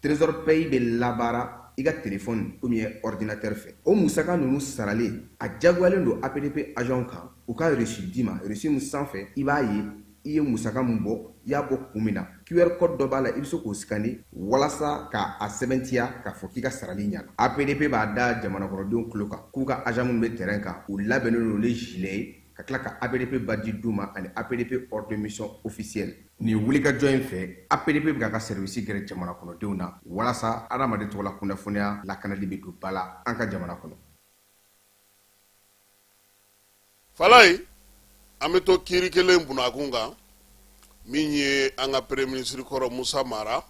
Trésor Pay bɛ labaara i ka telefɔni ou bien ɔridinatɛri fɛ. O musaka ninnu saralen, a diyagoyalen don APDP ajanw kan u ka resi d'i ma, resi min sanfɛ i b'a ye i ye musaka min bɔ, i y'a bɔ kun min na. QR kɔdi dɔ b'a la, i bɛ se k'o sikane walasa ka a sɛbɛntiya k'a fɔ k'i ka sarali ɲɛna. APDP b'a da jamanakɔnɔdenw tulo kan k'u ka ajan minnu bɛ tɛrɛn kan, u labɛnnen don ni zilɛ ye, ka tila ka APDP badge d'u ma ani APDP ordre de mission officiel. Nin wulikajɔ in fɛ, APDP bɛ k'a ka sɛriwisi gɛrɛ jamana kɔnɔdenw na walasa adamaden tɔgɔla kunnafoniya lakanali bɛ don ba la an ka jamana kɔnɔ. Falaye, an bɛ to kiiri kelen bunakun kan min ye an ka premier ministre kɔrɔ Moussa Mara,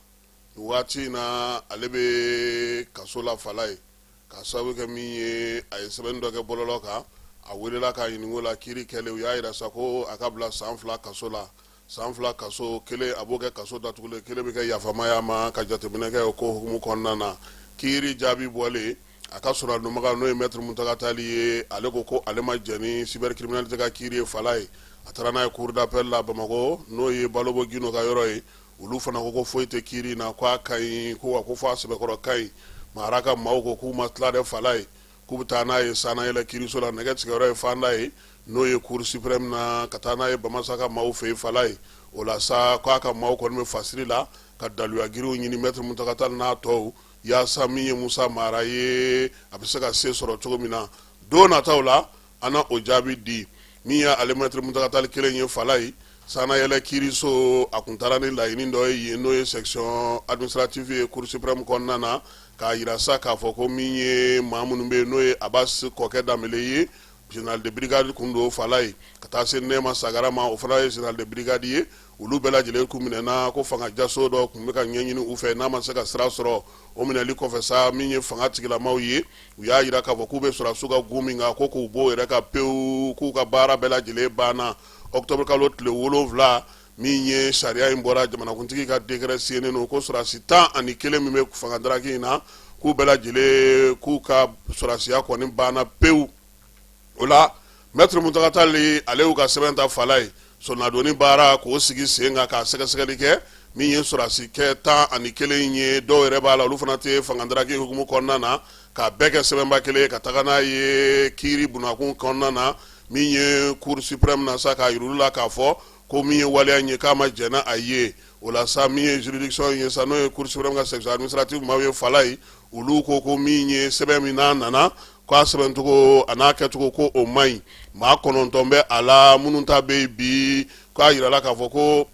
nin waati in na ale bɛ kaso la Falaye. Ka sababu kɛ min ye a ye sɛbɛnni dɔ kɛ bɔlɔlɔ kan a welela k'a ɲininka o la kiiri kɛlen u y'a jira sa ko a ka bila san fila kaso la san fila kaso kelen a b'o kɛ kaso datugulen kelen bɛ kɛ yafamaya ma ka jateminɛ kɛ o ko hukumu kɔnɔna na kiiri jaabi bɔlen a ka soronadonbaga n'o ye mɛtiri Mountaga Tall ye ale ko ko ale ma jɛn ni cybercriminalité ka kiiri ye Falaye a taara n'a ye cour d'appel la Bamakɔ n'o ye Balobo Guindo ka yɔrɔ ye olu fana ko ko foyi tɛ kiri na k' a ka ɲi ko fo a sɛbɛkɔrɔ ka ɲi mara ka maaw ko k'u ma tila dɛ fala ye k'u bɛ taa n'a ye sanayɛlɛ kiriso la nɛgɛ tigɛyɔrɔ ye fanda ye n'o ye cour suprême na ka taa n'a ye bamasa ka maaw fɛ yen fala ye o la sa k'a ka maaw kɔni bɛ fasiri la ka daluya giriw ɲini mɛtiri muntaga tali n'a tɔw yaasa min ye musa mara ye a bɛ se ka se sɔrɔ cogo min na don nataw la an na o jaabi di min ye ale mɛtiri muntaga tali kelen ye fala ye sanayɛlɛ kiiriso a tun taara ni laɲini dɔ ye yen n'o ye section administrative ye cour suprême kɔnɔna na k'a jira sa k'a fɔ ko min ye maa minnu bɛ yen n'o ye abasi kɔkɛ danbele ye général de brigade tun don fala ye ka taa se nɛma sagara ma o fana ye général de brigade ye olu bɛɛ lajɛlen kun minɛna ko fanga jaso dɔ tun bɛ ka ɲɛɲini u fɛ n'a ma se ka sira sɔrɔ o minɛli kɔfɛ sa min ye fanga tigilamaw ye u y'a jira k'a fɔ k'u bɛ sɔrɔsiw ka gun min kan ko k'u b'o yɛrɛ kan pewu k'u ka baara bɛɛ lajɛlen banna octobre kalo tile wolonwula min ye sariya in bɔra jamanakuntigi ka décret siɲenen don ko sɔrɔsi tan ani kelen min bɛ fanga daraki in na k'u bɛɛ lajɛlen k'u ka sɔrɔsiya kɔni banna pewu o la mɛtiri muntaga tali ale y'u ka sɛbɛn ta fala ye soronadonni baara k'o sigi sen kan k'a sɛgɛsɛgɛli kɛ min ye sɔrɔsi kɛ tan ani kelen ye dɔw yɛrɛ b'a la olu fana tɛ fangadaraki hukumu kɔnɔna na k'a bɛɛ kɛ sɛbɛnba kelen ka taga n'a ye kiiri bunakun kɔnɔna na min ye cour suprême na sa k'a yir'u la k'a fɔ ko min ye waleya ye k'a ma jɛn n'a ye o la sa min ye juridiction ye sa n'o ye cour suprême ka section administrative maaw ye fala ye olu ko ko min ye sɛbɛn min n'a nana k' a sɛbɛncogo a n'a kɛcogo ko o man ɲi maa kɔnɔntɔn bɛ a la minnu ta bɛ yen bi k'a jirala k'a fɔ ko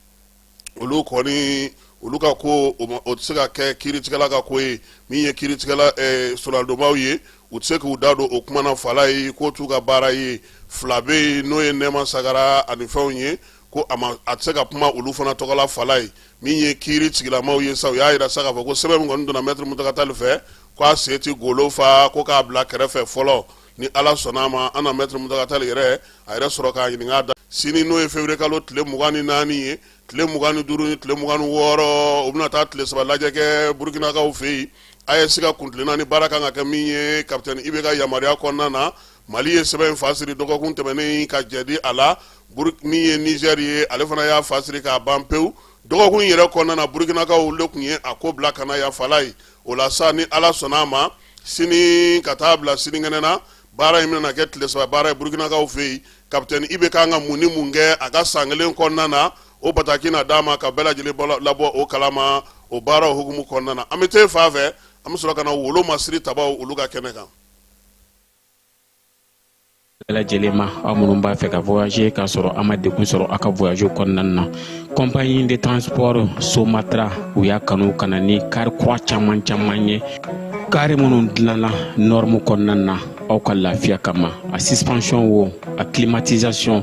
olu kɔni olu ka ko o ma- o tɛ se ka kɛ kiiritigɛla ka ko ye min ye kiiritigɛla eh, soronadonbaaw ye u tɛ se k'u da don o kuma na fala ye k'o t'u ka baara ye fila bɛ yen n'o ye nɛɛma sagara ani fɛnw ye ko a a tɛ se ka kuma olu fana tɔgɔ la fala ye min ye kiri tigilamaw ye sa u y'a jira sa k'a fɔ ko sɛbɛn min kɔni donna mɛtiri muntaga tali fɛ k' a se tɛ golo fa ko k'a bila kɛrɛfɛ fɔlɔ ni ala sɔnna a ma an na mɛtiri muntaga tali yɛrɛ a yɛrɛ sɔrɔ k'a ɲininka da sini n'o ye février kalo tile mugan ni naani ye tile mugan ni duuru ni tile mugan ni wɔɔrɔ u bɛna taa tile saba lajɛ kɛ burukinakaw fɛ yen AES ka kuntilenna ni baara kan ka kɛ min ye kapitɛni ibe ka yamaruya kɔnɔna na mali ye sɛbɛn in fasiri dɔgɔkun tɛmɛnen ka jɛdi a la min ye nizɛri ye ale fana y'a fasiri k'a ban pewu dɔgɔkun yɛrɛ kɔnɔna na burukinakaw olu tun ye a ko bila ka na ya fala ye o la sa ni ala sɔnna a ma sini ka taa bila sinikɛnɛ na baara in bɛna kɛ tile saba baara ye burukinakaw fɛ yen kapitɛni ibe kan ka mun ni mun kɛ a ka san kelen kɔnɔna na o bataki na d'a ma k'a bɛɛ lajɛlen labɔ o kalama o baara hukumu kɔnɔna na an bɛ te fa fɛ an bɛ sɔrɔ ka na wolo masiri tabaw olu ka kɛnɛ kan bɛɛ lajɛlen ma aw minnu b'a fɛ ka voyager k'a sɔrɔ a ma degun sɔrɔ a ka voyage kɔnɔna na compagnie de transport Somatra u y'a kanu ka na ni kari kura caman caman ye kari minnu dilanna norme kɔnɔna na aw ka lafiya kama a suspension wo a climatisation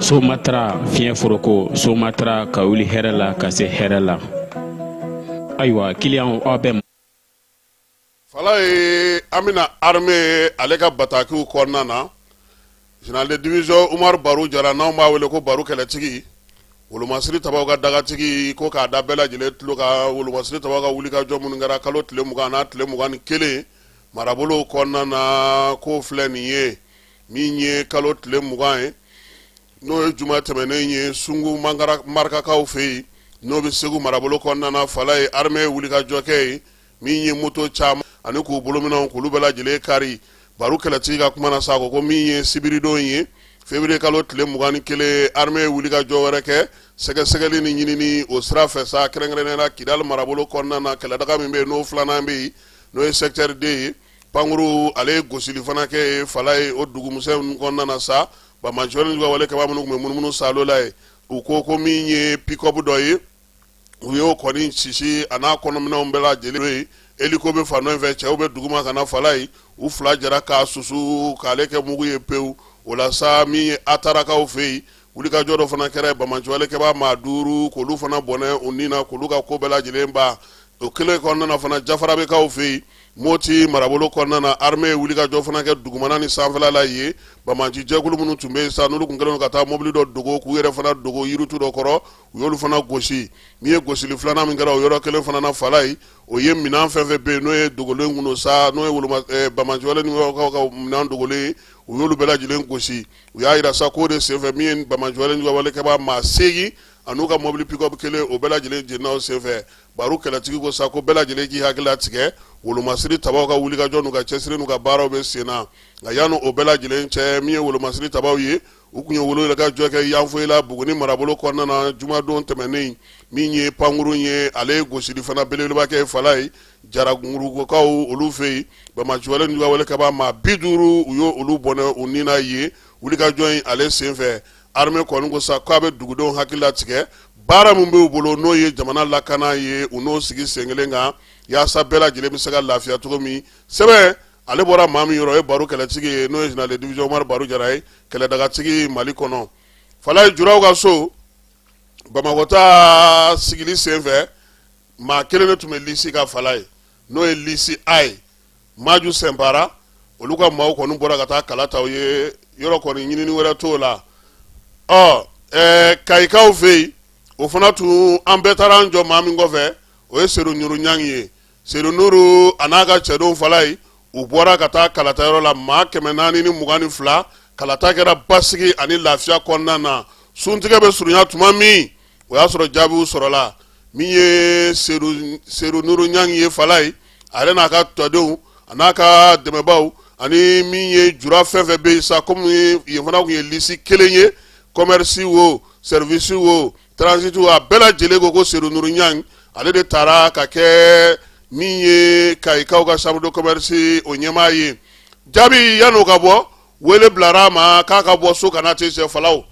Somatra fiɲɛ foroko Somatra ka wuli hɛrɛ la ka se hɛrɛ la ayiwa kiliyan aw bɛ Falaye an bɛna armée ale ka batakiw kɔnɔna na général de division Umar Baru Jara n'anw b'a wele ko Baru kɛlɛtigi wolomasiri tabaw ka dagatigi ko k'a da bɛɛ lajɛlen tulo kan wolomasiri tabaw ka wulikajɔ minnu kɛra kalo tile mugan n'a tile mugan ni kelen marabolow kɔnɔna na k'o filɛ nin ye min ye kalo tile mugan ye n'o ye juma tɛmɛnen ye sungu marikakaw fɛ yen n'o bɛ segu marabolo kɔnɔna Falaye armée ye wulikajɔ kɛ ye min ye moto caman ani k'u bolominɛnw k'olu bɛɛ lajɛlen kari Baru kɛlɛtigi ka kuma na sa ko ko min ye sibiridon ye février kalo tile mugan ni kelen armée ye wulikajɔ wɛrɛ kɛ sɛgɛsɛgɛli ni ɲinini o sira fɛ sa kɛrɛnkɛrɛnnenya la Kidal marabolo kɔnɔna na kɛlɛdaga min bɛ yen n'o filanan bɛ yen n'o ye secteur deux ye pankurun ale ye gosili fana kɛ ye Falaye o dugu misɛn kɔnɔna na sa banbaanci ka wale kɛbaa minnu bɛ munumunu salo la ye u ko ko min ye pick-up dɔ ye u y'o kɔni sisi a n'a kɔnɔminɛnw bɛɛ lajɛlen ye hélico bɛ fan dɔ fɛ cɛw bɛ duguma ka na Falaye u fila jɛra k'a susu k'ale kɛ mugu ye pewu o la sa min ye Atarakaw fɛ yen wulikajɔ dɔ fana kɛra banbaanci wale kɛbaa maa duuru k'olu fana bɔnɛ u ni na k'olu ka ko bɛɛ lajɛlen ban o kelen kɔnɔna na fana jafarabekaw fɛ yen moti marabolo kɔnɔna na armée ye wulikajɔ fana kɛ dugumana ni sanfɛla la ye banbaanci jɛkulu minnu tun bɛ yen sa n'olu tun kɛlen ka taa mobili dɔ dogo k'u yɛrɛ fana dogo yiritu dɔ kɔrɔ u y'olu fana gosi min ye gosili filanan min kɛra o yɔrɔ kelen fana na Falaye o ye minɛn fɛn fɛn bɛ yen n'o ye dogolen kun sa n'o ye banbaanci ninnu ka minɛn dogolen u y'olu bɛɛ lajɛlen gosi u y'a jira sa k'o de senfɛ min ye banbaanci wale kɛbaa maa segin a n'u ka mobili pick-up kelen o bɛɛ lajɛlen jenina o senfɛ Baru kɛlɛtigi ko sa ko bɛɛ lajɛlen k'i hakili latigɛ wolomasiri tabaw ka wulikajɔ n'u ka cɛsiri n'u ka baaraw bɛ sen na nka yanni o bɛɛ lajɛlen cɛ min ye wolomasiri tabaw ye u tun ye wulikajɔ kɛ Yanfolila Buguni marabolo kɔnɔna na jumadon tɛmɛnen min ye pankurun ye ale ye gosili fana belebeleba kɛ Falaye jarakurukaw olu fɛ yen banbaanci wale kɛbaa maa bi duuru u y'olu bɔnɛ u ni na ye wulikajɔ in ale senfɛ Armée kɔni ko sa k'a bɛ dugudenw hakili latigɛ baara min b'u bolo n'o ye jamana lakana ye u n'o sigi senkelen kan yaasa bɛɛ lajɛlen bɛ se ka lafiya cogo min sɛbɛn ale bɔra maa min yɔrɔ ye Baru kɛlɛtigi ye n'o ye général de division Umar Baru Jara ye kɛlɛdagatigi Mali kɔnɔ Falaye Juraw ka so Bamakɔtaa sigili senfɛ maa kelen de tun bɛ lisi kan falayi n'o ye lisi a ye maju sɛnpara olu ka maaw kɔni bɔra ka taa kala ta u ye yɔrɔ kɔni ɲinini wɛrɛ t'o la ɔ ɛɛ kayikaw fɛ yen o fana tun an bɛɛ taara an jɔ maa min kɔfɛ o ye sedu nuru ɲan ye sedu nuru a n'a ka cɛdenw falayi u bɔra ka taa kalata yɔrɔ la maa kɛmɛ naani ni mugan ni fila kalata kɛra basigi ani lafiya kɔnɔna na suntigɛ bɛ surunya tuma min o y'a sɔrɔ jaabiw sɔrɔla min ye sedu nuru ɲan ye falayi a yɛrɛ n'a ka tɔndenw a n'a ka dɛmɛbaw ani min ye jura fɛn fɛn bɛ yen sa kɔmi yen fana tun ye lisi kelen ye kɔmɛrisi wo sɛriwisi wo taranziti wo a bɛɛ lajɛlen ko ko sedu nuru ɲan ale de taara ka kɛ min ye kayikaw ka chambre de commerce o ɲɛmaa ye jaabi yann'o ka bɔ wele bilara a ma k'a ka bɔ so ka na tɛ sɛfalaw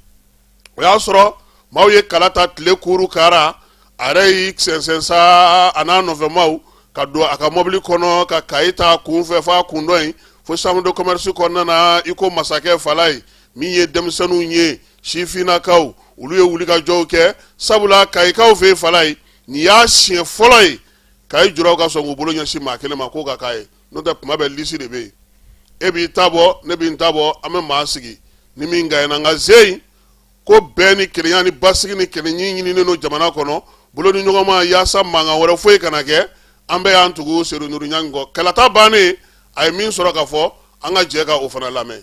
o y'a sɔrɔ maaw ye kala ta tile kuuru kara a yɛrɛ y'i sɛnsɛn sa a n'a nɔfɛmaw ka don a ka mɔbili kɔnɔ ka kayi ta kun fɛ f'a kun dɔ in fo chambre de commerce kɔnɔna na i ko masakɛ falayi min ye denmisɛnninw ye sifinnakaw olu ye wulikajɔw kɛ sabula kayikaw fɛ falayi nin y'a siɲɛ fɔlɔ ye kayi juraw ka sɔn k'u bolo ɲɛsin maa kelen ma k'o ka k'a ye n'o tɛ kuma bɛɛ lisi de bɛ yen e b'i ta bɔ ne bɛ n ta bɔ an bɛ maa sigi ni min gaɲena nka ze in ko bɛn ni kelenya ni basigi ni kelenya ɲininen don jamana kɔnɔ bolodiɲɔgɔnma yaasa mankan wɛrɛ foyi kana kɛ an bɛɛ y'an tugu sedu nuru ɲan kɔ kalata bannen a ye min sɔrɔ k'a fɔ an ka jɛ ka o fana lamɛn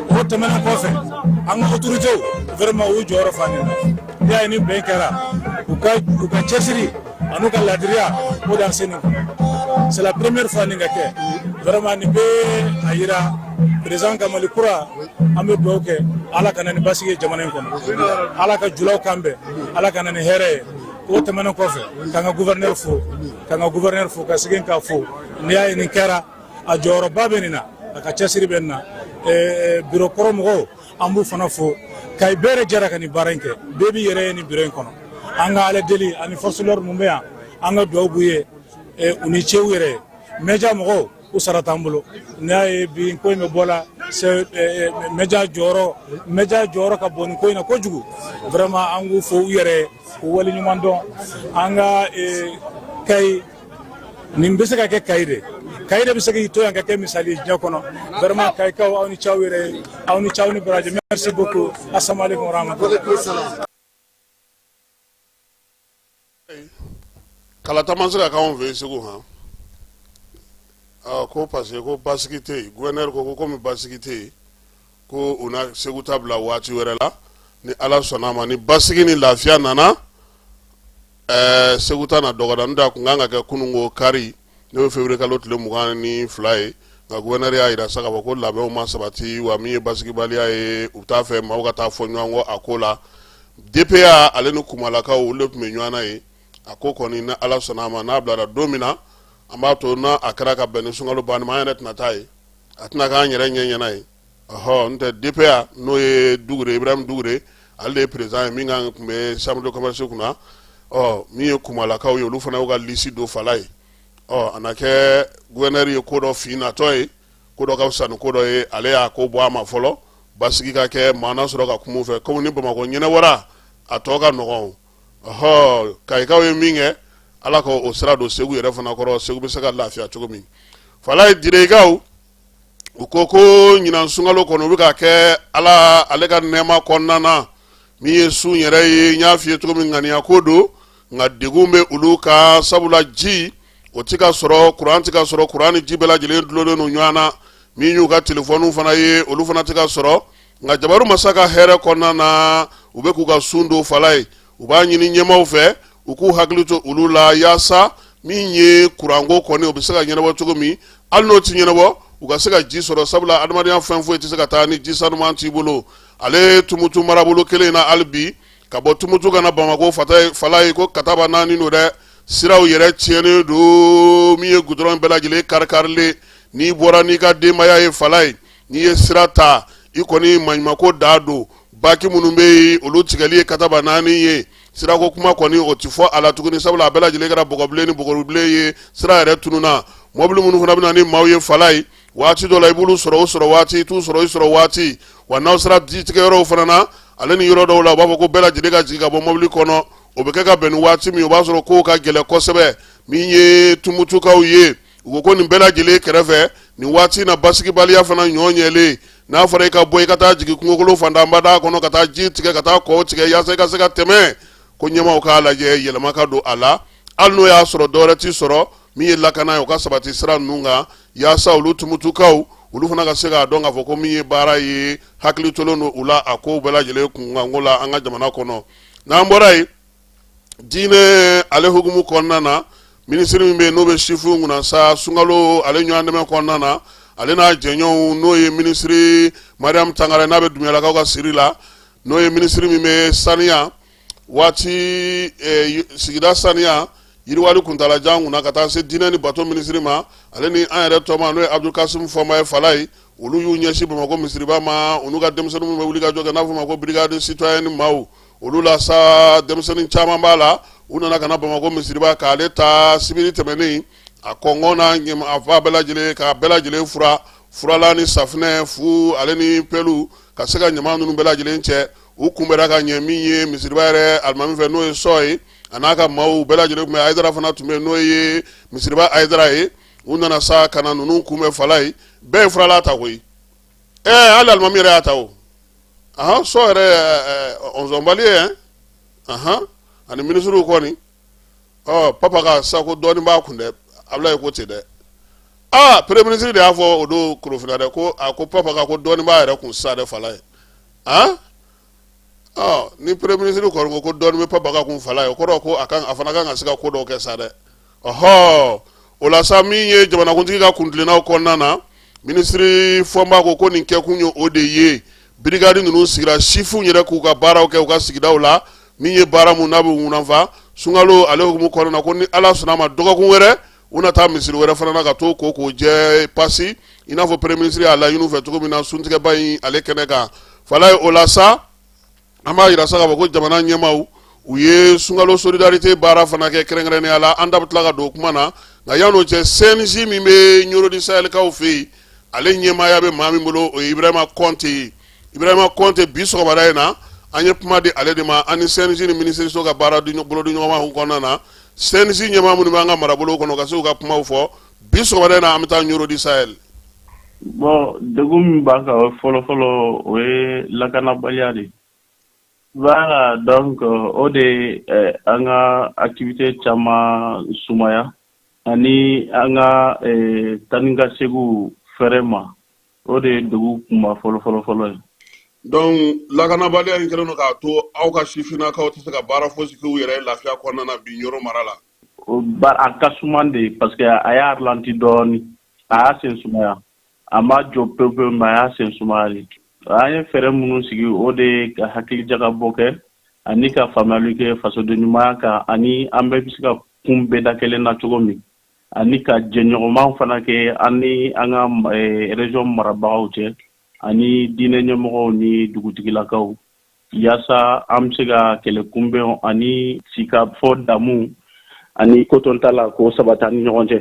o tɛmɛnen kɔfɛ an ka autorités vraiment u y'u jɔyɔrɔ fa nin na n'i y'a ye nin bɛn kɛra u ka u ka cɛsiri an'u ka laadiriya o de y'an se nin c'est la première fois nin ka kɛ vraiment nin bɛ a yira président ka mali kura an bɛ dugawu kɛ ala ka na ni basigi ye jamana in kɔnɔ ala ka julaw kan bɛn ala ka na ni hɛrɛ ye o tɛmɛnen kɔfɛ k'an ka gouverneur fo k'an ka gouverneur fo ka segin k'a fo n'i y'a ye nin kɛra a jɔyɔrɔba bɛ nin na a ka cɛsiri bɛ nin na biro kɔrɔ mɔgɔw an b'u fana fo kayi bɛɛ de jɛra ka nin baara in kɛ bɛɛ b'i yɛrɛ ye nin biro in kɔnɔ an ka ala deli ani forces de l'ordre mun bɛ yan an ka dugawu b'u ye u ni ce u yɛrɛ ye mɛja mɔgɔw u sara t'an bolo n'i y'a ye bi ko in bɛ bɔ la mɛja jɔyɔrɔ mɛja jɔyɔrɔ ka bon nin ko in na kojugu vraiment an k'u fo u yɛrɛ k'u waleɲuman dɔn an ka kayi nin bɛ se ka kɛ kayi de kayi de bɛ se k'i to yan ka kɛ misali ye diɲɛ kɔnɔ vraiment kayikaw aw ni ce aw yɛrɛ ye aw ni ce aw ni baraji merci beaucoup asalaamu aleykum warahmatulahi kalata ma se ka k'anw fɛ yen segu han aa ko parce que ko basigi tɛ yen gouverneur ko ko komi basigi tɛ yen ko u na segu ta bila waati wɛrɛ la ni ala sɔnna a ma ni basigi ni lafiya nana Ɛɛ segu ta na dɔgɔda n'o ta tun kan ka kɛ kununko kari n'o ye février kalo tile mugan ni fila ye nka gouverneur y'a yira sa k'a fɔ ko labɛnw ma sabati wa min ye basigibaliya ye u t'a fɛ maaw ka taa fɔ ɲɔgɔn kɔ a ko la DPA ale ni kumalakaw olu de tun bɛ ɲɔgɔn na ye a ko kɔni ni ala sɔnna a ma n'a bilara don min na an b'a to n'a a kɛra ka bɛn ni sunkalo banni ma an yɛrɛ tɛna taa ye a tɛna k'an yɛrɛ ɲɛ ɲɛna ye ɔhɔ n tɛ DPA n'o ye Dugure Ibrahim Dugure ale de ye président ye min kan tun bɛ chambre de commerce kunna ɔ min ye Kumalakaw ye olu fana y'u ka liste don fala ye ɔ a na kɛ gouverneur ye ko dɔ fin natɔ ye ko dɔ ka fisa ni ko dɔ ye ale y'a ko bɔ a ma fɔlɔ basigi ka kɛ maa na sɔrɔ ka kuma u fɛ komi ni Bamakɔ ɲɛnɛbɔra a tɔ ka nɔgɔn ɔhɔ Kayikaw ye min kɛ Ala ka o sira don Segu yɛrɛ fana kɔrɔ Segu bɛ se ka lafiya cogo min fala ye Direkaw u ko ko ɲinan sunkalo kɔnɔ u bɛ ka kɛ ala ale ka nɛɛma kɔnɔna na min ye sun yɛrɛ ye n y'a f'i ye cogo min ŋaniya ko don nka degun bɛ olu kan sabula ji o tɛ ka sɔrɔ kuran tɛ ka sɔrɔ kuran ni ji bɛɛ lajɛlen dulonnen don ɲɔgɔn na min y'u ka telefɔniw fana ye olu fana tɛ ka sɔrɔ nka jabaru masa ka hɛrɛ kɔnɔna na u bɛ k'u ka sun don fala ye u b'a ɲini ɲɛmaaw fɛ u k'u hakili to olu la yaasa min ye kuranko kɔni o bɛ se ka ɲɛnabɔ cogo min hali n'o tɛ ɲɛnabɔ u ka se ka ji sɔrɔ sabula adamadenya fɛn foyi tɛ se ka taa ni ji sanuman t'i bolo ale tumutu marabolo kelen in na hali bi ka bɔ tumutu ka na bamakɔ fala ye ko kataba naani don dɛ siraw yɛrɛ tiɲɛnen don min ye gudɔrɔn bɛɛ lajɛlen karikarilen n'i bɔra n'i ka denbaya ye fala ye n'i ye sira ta i kɔni maɲumako dan don baki minnu bɛ yen olu tigɛli ye kataba naani ye sirako kuma kɔni o tɛ fɔ a la tuguni sabula a bɛɛ lajɛlen kɛra bɔgɔbilen ni bɔgɔbilen ye sira yɛrɛ tununna mɔbili minnu fana bɛ na ni maaw ye fala ye waati dɔ la i b'olu sɔrɔ o sɔrɔ waati i t'u sɔrɔ i sɔrɔ waati wa n'aw sera ji tigɛyɔrɔw fana na ale ni yɔrɔ dɔw la u b'a fɔ ko bɛɛ lajɛlen ka jigin ka bɔ mɔbili kɔnɔ o bɛ kɛ ka bɛn ni waati min o b'a sɔrɔ kow ka gɛlɛn kosɛbɛ min ye tumutukaw ye u ko nin bɛɛ lajɛlen kɛrɛfɛ nin waati in na basigibaliya fana ɲɔ ɲɛlen n'a fɔra i ka bɔ i ka taa jigin kungokolo fantanbada kɔnɔ ka taa ji tigɛ ka taa kɔw tigɛ yaasa i ka se ka tɛmɛ ko ɲɛmaaw k'a lajɛ yɛlɛma ka don a la hali n'o y'a sɔrɔ dɔwɛrɛ tɛ sɔrɔ min ye lakana ye o ka sabati sira ninnu kan yaasa olu tumutukaw olu fana ka se k'a dɔn k'a fɔ ko min ye baara ye hakili tolen don u la a ko bɛɛ lajɛlen kunkanko la an ka jamana kɔnɔ n'an bɔra yen diinɛ ale hukumu kɔnɔna na minisiri min bɛ yen n'o bɛ sifinw kunna sa sunkalo ale ɲɔgɔn dɛmɛ kɔnɔna na ale n'a jɛɲɔgɔnw n'o ye minisiri mariam tangara n'a bɛ dumuyalakaw ka siri la n'o ye minisiri min bɛ saniya waati eh, sigida saniya yiriwali kuntalajan kunna ka taa se diinɛ ni bato minisiri ma ale ni an yɛrɛ tɔma n'o ye abdulkasim fɔnba ye fala ye olu y'u ɲɛsin bamakɔ misiriba ma olu ka denmisɛnninw minnu bɛ wuli ka jɔ kɛ n'a fɔ ma ko brigade citoyenne maaw olu la sa denmisɛnnin caman b'a la u nana ka na bamakɔ misiriba k'ale ta sibiri tɛmɛnen a kɔkanna ɲɛma a fan bɛɛ lajɛlen k'a bɛɛ lajɛlen furan furalan ni safinɛ fu ale ni pelu ka se ka ɲama ninnu bɛɛ lajɛlen cɛ u kunbɛra ka ɲɛ min ye misiriba yɛrɛ alimami fɛ n'o ye sɔ ye a n'a ka maaw bɛɛ lajɛlen tun bɛ ayidara fana tun bɛ n'o ye misiriba ayidara ye u nana sa ka na ninnu kunbɛn falayi bɛɛ ye furalan ta koyi ɛ hali alimami yɛrɛ y'a ta o ahan sɔ yɛrɛ ɔnzɔnbali ye ɛn ahan ani minisiriw kɔni ɔ papa ka sako dɔɔni b'a kun dɛ abulayi ko ten dɛ aa premier ministre de y'a fɔ o don korofina dɛ ko a ko papa ka ko dɔɔni b'a yɛrɛ kun sisan dɛ falayi han. ni premier ministre kɔrɔ ko dɔɔni bɛ papa ka kun falayi o kɔrɔ ko a fana kan ka se ka ko dɔw kɛ sa dɛ ɔɔ o la sa min ye jamanakuntigi ka kuntilenna kɔnɔna na minisiri fɔnba ko ko nin kɛkun ye o de ye brigade ninnu sigira sifinw yɛrɛ k'u ka baaraw kɛ u ka sigidaw la min ye baara min n'a bɛ u nafa sunkalo ale hukumu kɔnɔna na ko ni ala sɔnna a ma dɔgɔkun wɛrɛ u na taa misiri wɛrɛ fana na ka t'o ko k'o jɛ pasi i n'a fɔ premier ministre y'a laɲini u fɛ cogo min na suntigɛba in ale kɛnɛ kan falayi o la sa an b'a yira sa k'a fɔ ko jamana ɲɛmaaw u ye sunkalo solidarité baara fana kɛ kɛrɛnkɛrɛnnenya la an da bɛ tila ka don o kuma na nka yan'o cɛ cnj min bɛ ɲoro di sayɛlikaw fɛ yen ale ɲɛmaaya bɛ maa min bolo o ye ibrahima kɔnte ye ibrahima kɔnte bi sɔgɔmada in na an ye kuma di ale de ma ani cnj ni minisiriso ka baara bolo di ɲɔgɔnma kɔnɔna na cnj ɲɛmaa minnu b'an ka marabolo kɔnɔ ka se ka kuma fɔ bi sɔgɔmada in an bɛ taa ɲoro di sayɛli bon degun min b'an kan fɔlɔfɔlɔ o ye lakanabaliya de voilà donc o de an ka activité caman sumaya ani an ka taa ni ka segin fɛrɛ ma O de ye degun kunba fɔlɔ fɔlɔ fɔlɔ ye. Donc lakanabaliya in kɛlen don k'a to aw ka sifinnakaw tɛ se ka baara fosi k'u yɛrɛ ye lafiya kɔnɔna na bi Ɲoro mara la? Ɔ baara ka suman de parce que a y'a ralentir dɔɔni, a y'a sen sumaya, a ma jɔ pewu pewu mais a y'a sen sumaya de. An ye fɛɛrɛ minnu sigi o de ye ka hakilijakabɔ kɛ ani ka faamuyali kɛ fasodenɲumanya kan ani an bɛɛ bɛ se ka kunbɛn da kelen na cogo min. ani ka jɛɲɔgɔnman fana kɛ an ni an ka région marabagaw cɛ ani diinɛ ɲɛmɔgɔw ni dugutigilakaw yaasa an bɛ se ka kɛlɛ kunbɛn ani sigikafɔ damu ani kotoɲɔgɔntala ka sabati an ni ɲɔgɔn cɛ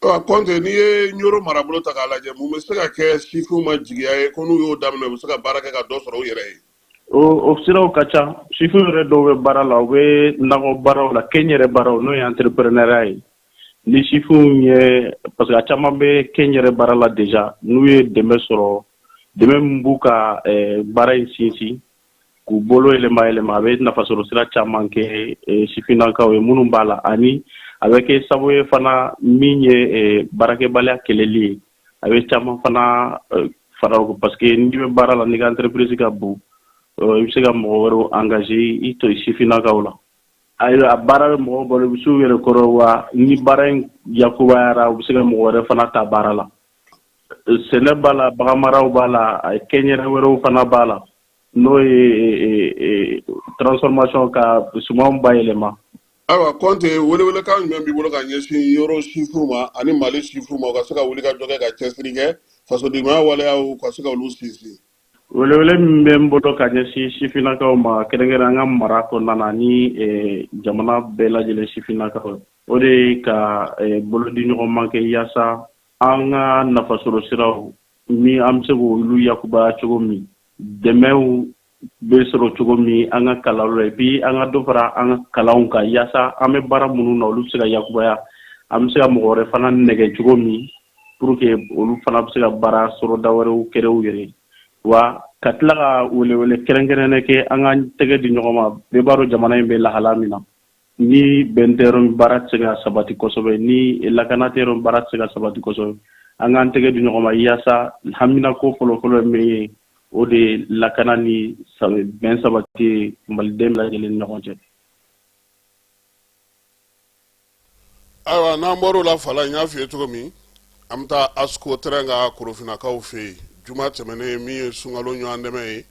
kɔnte n'i ye ɲoro marabolo ta k'a lajɛ mun bɛ se ka kɛ sifinw ma jigiya ye ko n'u y'o daminɛ u bɛ se ka baara kɛ ka dɔ sɔrɔ u yɛrɛ ye O siraw ka ca sifin yɛrɛ dɔw bɛ baara la u bɛ nakɔ baaraw la kɛnyɛrɛ baaraw n'o ye entrepreneuriat ye ni sifinw ye parce que a caman bɛ kɛnyɛrɛ baara la déjà n'u ye dɛmɛ sɔrɔ dɛmɛ min b'u ka baara in sinsin k'u bolo yɛlɛma yɛlɛma a bɛ nafa sɔrɔ sira caman kɛ sifinnakaw ye minnu b'a la ani a bɛ kɛ sababu ye fana min ye baarakɛbaliya kɛlɛli ye a bɛ caman fana eh, fara o kan parce que n'i bɛ baara la n'i ka entreprise ka bon eh, i bɛ se ka mɔgɔ wɛrɛw engagé i tɔ sifinnakaw la ayiwa a baara bɛ mɔgɔ balo u bɛ se u yɛrɛ kɔrɔ wa ni baara in yakubayara u bɛ se ka mɔgɔ wɛrɛ fana ta baara la eh, sɛnɛ b'a la baganmaraw b'a la kɛnyɛrɛ wɛrɛw fana b'a la n'o ye transformation ka sumanw bayɛlɛma ayiwa kɔnte welewelekan jumɛn b'i bolo ka ɲɛsin yɔrɔ sifinw ma ani mali sifinw ma u ka se ka wulikajɔ kɛ ka cɛsiri kɛ fasodenɲumaya waleyaw ka se ka olu sinsin welewele min bɛ n bolo ka ɲɛsin sifinnakaw ma kɛrɛnkɛrɛn an ka mara kɔnɔna na ni eh, jamana bɛɛ lajɛlen sifinnakaw o de ye ka eh, bolodiɲɔgɔnma kɛ yaasa an ka nafasɔrɔ siraw min an bɛ se k'olu yakubaya cogo min dɛmɛw bɛ sɔrɔ cogo min an ka kalanw la et puis an ka dɔ fara an ka kalanw kan yaasa an bɛ baara minnu na olu bɛ se ka yakubaya an bɛ se ka mɔgɔ wɛrɛ fana nɛgɛ cogo min pour que olu fana bɛ se ka baara sɔrɔda wɛrɛw créer u yɛrɛ wa ka tila ka welewele kɛrɛnkɛrɛnnen kɛ an ka tɛgɛ di ɲɔgɔn ma bɛɛ b'a dɔn jamana in bɛ lahala min na Ni bɛn tɛ yɔrɔ min baara tɛ se ka sabati kosɛbɛ, ni lakana tɛ yɔrɔ min baara tɛ se ka sabati kosɛbɛ, an k'an tɛgɛ di ɲɔgɔn ma yaasa haminanko fɔlɔ-fɔlɔ ye min ye, o de ye lakana ni bɛn sabati ye Maliden bɛɛ lajɛlen ni ɲɔgɔn cɛ. Ayiwa, n'an bɔra o la, Falayi, n y'a fɔ i ye cogo min, an bɛ taa asko tɛrɛn kan korofinakaw fɛ yen juma tɛmɛnen min ye sunkalo ɲɔgɔn dɛmɛ ye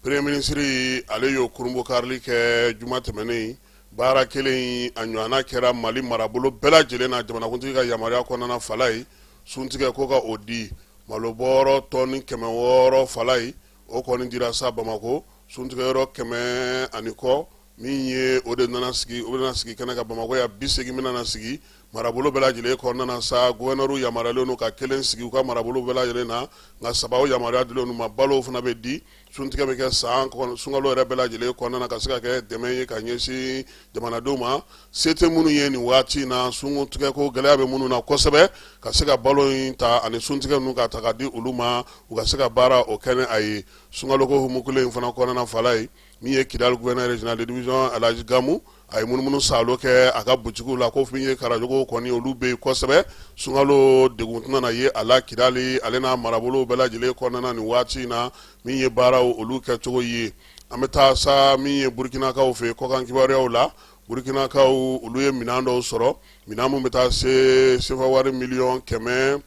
premier ministre ale y'o kurunbonkarili kɛ juma tɛmɛnen baara kelen a ɲɔgɔnna kɛra mali marabolo bɛɛ lajɛlen na jamanakuntigi ka yamaruya kɔnɔna Falayi suntigɛ ko ka o di malobɔrɔ tɔni kɛmɛ wɔɔrɔ Falayi o kɔni dira sa bamakɔ suntigɛyɔrɔ kɛmɛ ani kɔ min ye o de nana sigi o bɛna sigi kɛnɛ kan bamakɔ yan bi segin min nana sigi marabolo bɛɛ lajɛlen kɔnɔna na sa gouverneurw yamaruyalen don u ka kelen sigi u ka marabolo bɛɛ lajɛlen na nka saba o yamaruya dilen don u ma balo fana bɛ di suntigɛ bɛ kɛ sa sunkalo yɛrɛ bɛɛ lajɛlen kɔnɔna na ka se ka kɛ dɛmɛ ye ka ɲɛsin jamanadenw ma se tɛ minnu ye nin waati in na suntigɛ ko gɛlɛya bɛ minnu na kosɛbɛ ka se ka balo in ta ani suntigɛ ninnu ka taga di olu ma u ka se ka baara o kɛnɛ a ye sunkalo ko hukumu in fana kɔnɔna Falayi min ye kidali gouverneur général de division Alhaji Gamu a ye munumunu saalo kɛ a ka butikiw la ko min ye karajogow kɔni olu bɛ yen kosɛbɛ sunkalo degun tɛna na ye a la kidali ale n'a marabolow bɛɛ lajɛlen kɔnɔna na nin waati in na min ye baaraw olu kɛcogo ye an bɛ taa sa min ye burukinakaw fɛ kɔkan kibaruyaw la burukinakaw olu ye minɛn dɔw sɔrɔ minɛn min bɛ taa se sefa wari miliyɔn kɛmɛ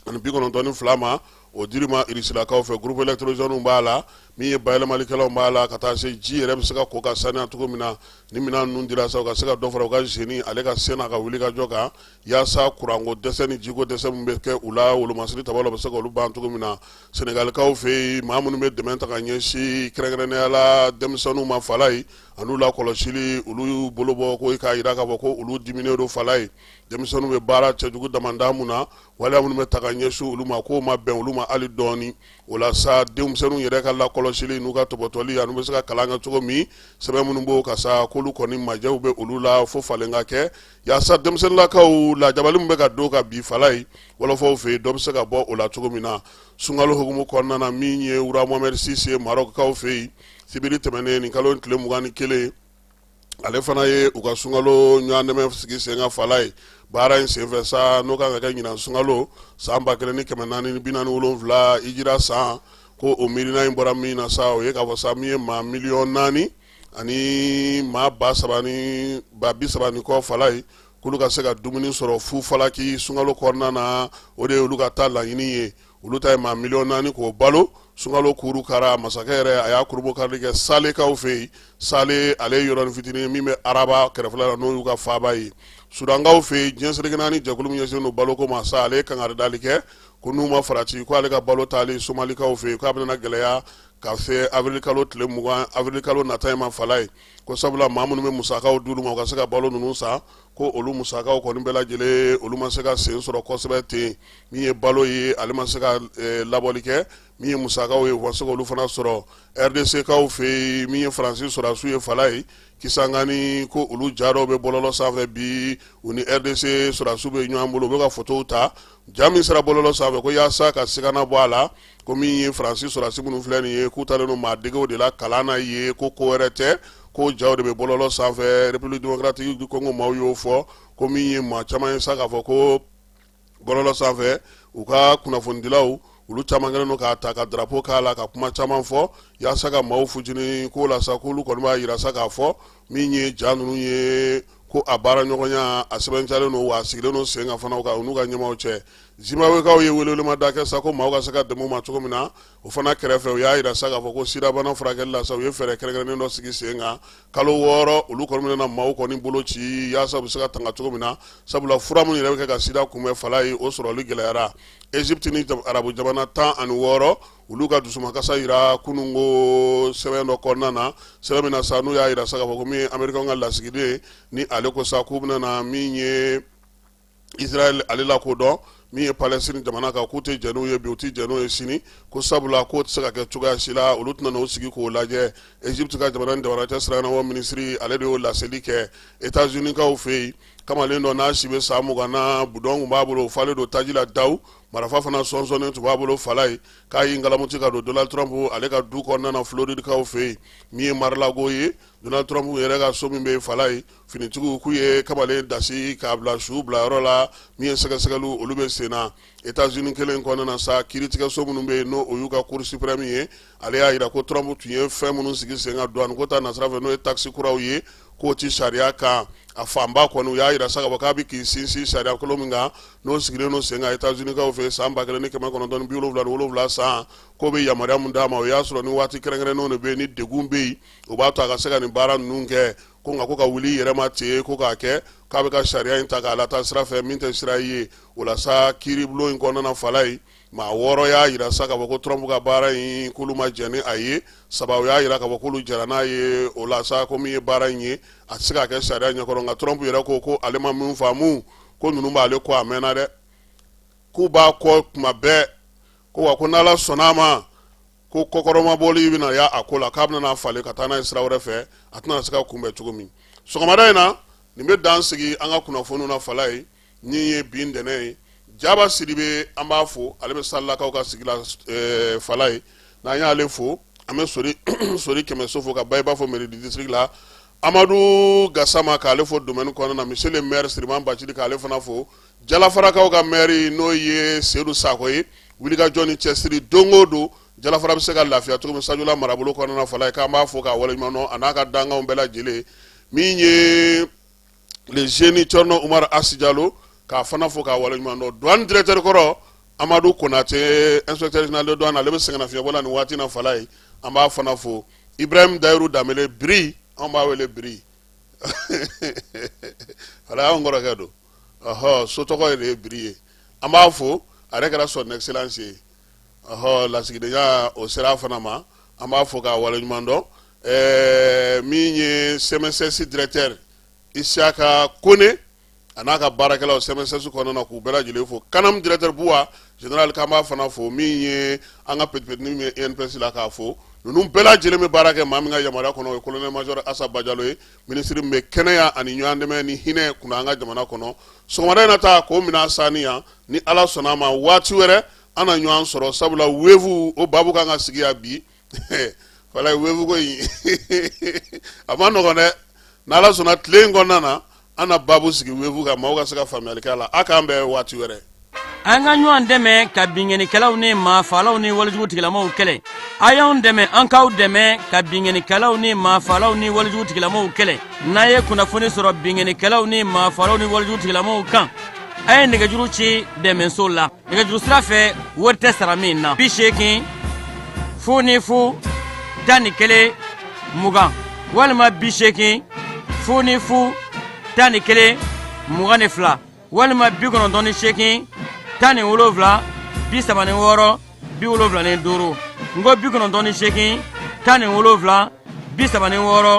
ani bi kɔnɔntɔn ni fila ma o dir'u ma irisilakaw fɛ groupe électrogènew b'a la min ye bayɛlɛmalikɛlaw b'a la ka taa se ji yɛrɛ bɛ se ka ko ka saniya cogo min na ni minɛn ninnu dira sa u ka se ka dɔ fara u ka génie ale ka se n'a ka wulikajɔ kan yaasa kuranko dɛsɛ ni jiko dɛsɛ min bɛ kɛ u la wolomasiri ta la bɛ se ka olu ban cogo min na senegalikaw fɛ yen maa minnu bɛ dɛmɛ ta ka ɲɛsin kɛrɛnkɛrɛnnenya la denmisɛnninw ma fala ye an'u lakɔlɔsili olu bolo bɔ ko k'a jira k'a fɔ ko olu diminen don fala ye denmisɛnninw bɛ baara cɛjugu damada min na waleya minnu bɛ ta ka ɲɛsin olu ma k'o ma bɛn olu ma hali dɔɔni o la sa denmisɛnninw yɛrɛ ka lakɔlɔsili n'u ka tɔbɔtɔli an'u bɛ se ka kalan kɛ cogo min sɛbɛn minnu b'o kan sa k'olu kɔni majɛw bɛ olu la fo falen ka kɛ yaasa denmisɛnninlakaw lajabali min bɛ ka don ka bi fala ye wɔlɔfɔw fɛ yen dɔ bɛ se ka bɔ o la cogo min na sunkalo hukumu kɔnɔna na min ye roi Mohamed six marɔkukaw fɛ yen sibiri tɛmɛnen nin kalo tile mugan ni kelen ale fana ye u ka sunkalo ɲɔgɔndɛmɛ sigi sen kan fala ye baara in senfɛ sa n'o kan ka kɛ ɲinan sunkalo san ba kelen ni kɛmɛ naani ni bi naani ni wolonwula hijira san ko o miirina in bɔra min na sa o ye k'a fɔ sa min ye maa miliyɔn naani ani maa ba saba ni ba bi saba ni kɔ fala ye k'olu ka se ka dumuni sɔrɔ fu falaki sunkalo kɔnɔna na o de ye olu ka taa laɲini ye olu ta maa miliyɔn naani k'o balo sunkalo kurukara masakɛ yɛrɛ a y'a kurunbonkarili kɛ salekaw fɛ yen sale yɔrɔnin fitinin min bɛ araba kɛrɛfɛ la n'o y'u ka faaba ye sudankaw fɛ yen diɲɛ seleke naani jɛkulu min ɲɛsinnen don baloko ma sa ale ye kangari dali kɛ ko n'u ma farati ko ale ka balo taali somalikaw fɛ yen k'a bɛna gɛlɛya ka se avril kalo tile mugan avril kalo nata in ma fala ye ko sabula maa minnu bɛ musakaw d'olu ma u ka se ka balo ninnu san ko olu musakaw kɔni bɛɛ lajɛlen olu ma se ka sen sɔrɔ kosɛbɛ ten min ye balo ye ale ma se ka eh, labɔli kɛ min ye musakaw ye a ma se k'olu fana sɔrɔ rdckaw fɛ yen min ye faransi sɔrɔdasiw ye fala ye kisangani ko olu ja dɔw bɛ bɔlɔlɔ sanfɛ bi u ni rdc sɔrɔdasiw bɛ ɲɔgɔn bolo u bɛ ka fotow ta ja min sera bɔlɔlɔ sanfɛ ko yaasa ka sigana bɔ a la ko min ye faransi sɔrɔdasi minnu filɛ nin ye k'u taalen don maa dege de la kalan na ye ko ko wɛrɛ tɛ ko jaw de bɛ bɔlɔlɔ sanfɛ république démocratique du congo maaw y'o fɔ ko min ye maa caman ye sa k'a fɔ ko bɔlɔlɔ sanfɛ u ka kunnafonidilaw olu caman kɛlen don k'a ta ka drapo k'a la ka kuma caman fɔ yaasa ka maaw futini ko la sa k'olu kɔni b'a yira sa k'a fɔ min ye ja ninnu ye ko a baara ɲɔgɔnya a sɛbɛntiyalen don wa a sigilen don sen kan fana u ka u n'u ka ɲɛmaaw cɛ Zimbabwekaw ye welewelemada da kɛ sa ko maaw ka se ka dɛmɛ u ma cogo min na, o fana kɛrɛfɛ, u y'a jira sa k'a fɔ ko sidabana furakɛli la sa, u ye fɛɛrɛ kɛrɛnkɛrɛnnen dɔ sigi sen kan kalo wɔɔrɔ, olu kɔni bɛna na maaw kɔni bolo ci yaasa u bɛ se ka tanga cogo min na, sabula fura minnu yɛrɛ bɛ kɛ ka sida kunbɛn fala ye, o sɔrɔli gɛlɛyara. Egypte ni arabu jamana tan ani wɔɔrɔ, olu ka dusumakasa jira kunun ko sɛbɛn dɔ kɔnɔna na, sɛbɛn min na sa n'u y'a jira sa k'a fɔ ko min ye Amerikɛnw ka lasigiden ye, ni ale ko sa k'u bɛna na min ye israɛl ale lakodɔn min ye palestine jamana kan k'u tɛ jɛn n'u ye bi u tɛ jɛn n'u ye sini ko sabula k'o tɛ se ka kɛ cogoya si la olu tɛna n'o sigi k'o lajɛ egypte ka jamana ni jamana cɛ siranabɔ minisiri ale de y'o laseli kɛ etazunikaw fɛ yen kamalen dɔ n'a si bɛ san mugan na budɔn tun b'a bolo o falen don taji la daw marafa fana sɔnsɔnnen tun b'a bolo fala ye k'a y'i ngalamuti ka don donald trump ale ka du kɔnɔna na floridikaw fɛ yen min ye mar-a-lago ye donald trump yɛrɛ ka so min bɛ yen fala ye finitigiw k'u ye kamalen dasi k'a bila su bila yɔrɔ la min ye sɛgɛsɛgɛliw olu bɛ sen na Etats-Unis kelen kɔnɔna na sa kiiritigɛso minnu bɛ yen n'o y'u ka Cour suprême ye ale y'a jira ko Trump tun ye fɛn minnu sigi sen kan douane ko ta nasira fɛ n'o ye taxe kuraw ye k'o tɛ sariya kan a fanba kɔni u y'a jira sa k'a fɔ k'a bɛ k'i sinsin sariya kolo min kan n'o sigilen don sen kan Etats-Unis kaw fɛ san ba kelen ni kɛmɛ kɔnɔntɔn ni bi wolonwula ni wolonwula san k'o bɛ yamaruya min d'a ma o y'a sɔrɔ ni waati kɛrɛnkɛrɛnnenw de bɛ yen ni degun bɛ yen o b'a to a ka se ka nin baara ninnu kɛ ko nka ko ka wuli yɛrɛma ten ko k'a kɛ k'a bɛ ka sariya in ta k'a lataa sira fɛ min tɛ sira ye o la sa kiiribulon in kɔnɔna fala ye maa wɔɔrɔ y'a jira sa k'a fɔ ko Trump ka baara in k'olu ma jɛn ni a ye saba y'a jira k'a fɔ k'olu jɛra n'a ye o la sa ko min ye baara in ye a tɛ se ka kɛ sariya ɲɛkɔrɔ nka Trump yɛrɛ ko ko ale ma min faamu ko ninnu b'ale kɔ a mɛnna dɛ k'u b'a kɔ tuma bɛɛ ko wa ko n'Ala sɔnn'a ma ko kɔkɔrɔmabɔli bɛna y'a a ko la k'a bɛna n'a falen ka taa n'a ye sira wɛrɛ fɛ a tɛna se ka kunbɛn cogo min sɔgɔmada in na nin bɛ dan sigi an ka kunnafoniw na fala ye min ye bi ntɛnɛn ye jaba sidibe an b'a fo ale bɛ salakaw ka sigi la fala ye n'an y'ale fo an bɛ sori sori kɛmɛso fo ka ba i b'a fɔ mairie du district la amadu gasama k'ale fo domaine kɔnɔna na monsieur le maire siriman bacili k'ale fana fo jalafarakaw ka maire n'o ye seyidu sakɔ ye wulikajɔ ni cɛsiri don o don jalafara bɛ se ka lafiya cogo min sajula marabolo kɔnɔna na fala ye k'an b'a fo k'a waleɲuman dɔn a n'a ka dankanw bɛɛ lajɛlen min ye le génie thierno umaru asi jalo k'a fana fo k'a waleɲuman dɔn douane directeur kɔrɔ amadu konatɛ inspecteur général de douane ale bɛ sɛgɛnnafiɲɛbɔ la nin waati na fala ye an b'a fana fo ibrahim dayiru damele biri an b'a wele biri fala y'an kɔrɔkɛ don ɔhɔ so tɔgɔ yɛrɛ ye biri ye an b'a fo a yɛrɛ kɛra son excellence ye ɔhɔ lasigidenya o sera a fana ma an b'a fo k'a waleɲuman dɔn ɛɛ min ye cmss directeur isiaka kone a n'a ka baarakɛlaw cmss kɔnɔna na k'u bɛɛ lajɛlen fo canam directeur buwa général k'an b'a fana fo min ye an ka petipetini min ye inps la k'a fo ninnu bɛɛ lajɛlen bɛ baara kɛ maa min ka yamaruya kɔnɔ o ye colonel major asa bajalo ye minisiri min bɛ kɛnɛya ani ɲɔgɔn dɛmɛ ni hinɛ kunna an ka jamana kɔnɔ sɔgɔmada in na ta k'o minɛ sani yan ni ala sɔnna a ma waati wɛrɛ an na ɲɔgɔn sɔrɔ sabula veuve o baabu kan ka sigi yan bi fala veuve ko in a man nɔgɔn dɛ n'ala sɔnna tile in kɔnɔna na an na baabu sigi veuve kan maaw ka se ka faamuyali kɛ a la a k'an bɛn waati wɛrɛ an ka ɲɔgɔn dɛmɛ ka binkannikɛlaw ni maafalaw ni walejugutigilamaw kɛlɛ a y'an dɛmɛ an k'aw dɛmɛ ka binkannikɛlaw ni maafalaw ni walejugutigilamaw kɛlɛ n'a ye kunnafoni sɔrɔ binkannikɛlaw ni maafalaw ni walejugutigilamaw kan a ye nɛgɛjuru ci dɛmɛso la nɛgɛjuru sira fɛ wari tɛ sara min na bi seegin fu ni fu tan ni kelen mugan walima bi seegin fu ni fu tan ni kelen mugan ni fila walima bi kɔnɔntɔn ni seegin tan ni wolonwula bi saba ni wɔɔrɔ bi wolonwula ni duuru n ko bi kɔnɔntɔn ni seegin tan ni wolonwula bi saba ni wɔɔrɔ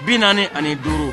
bi naani ani duuru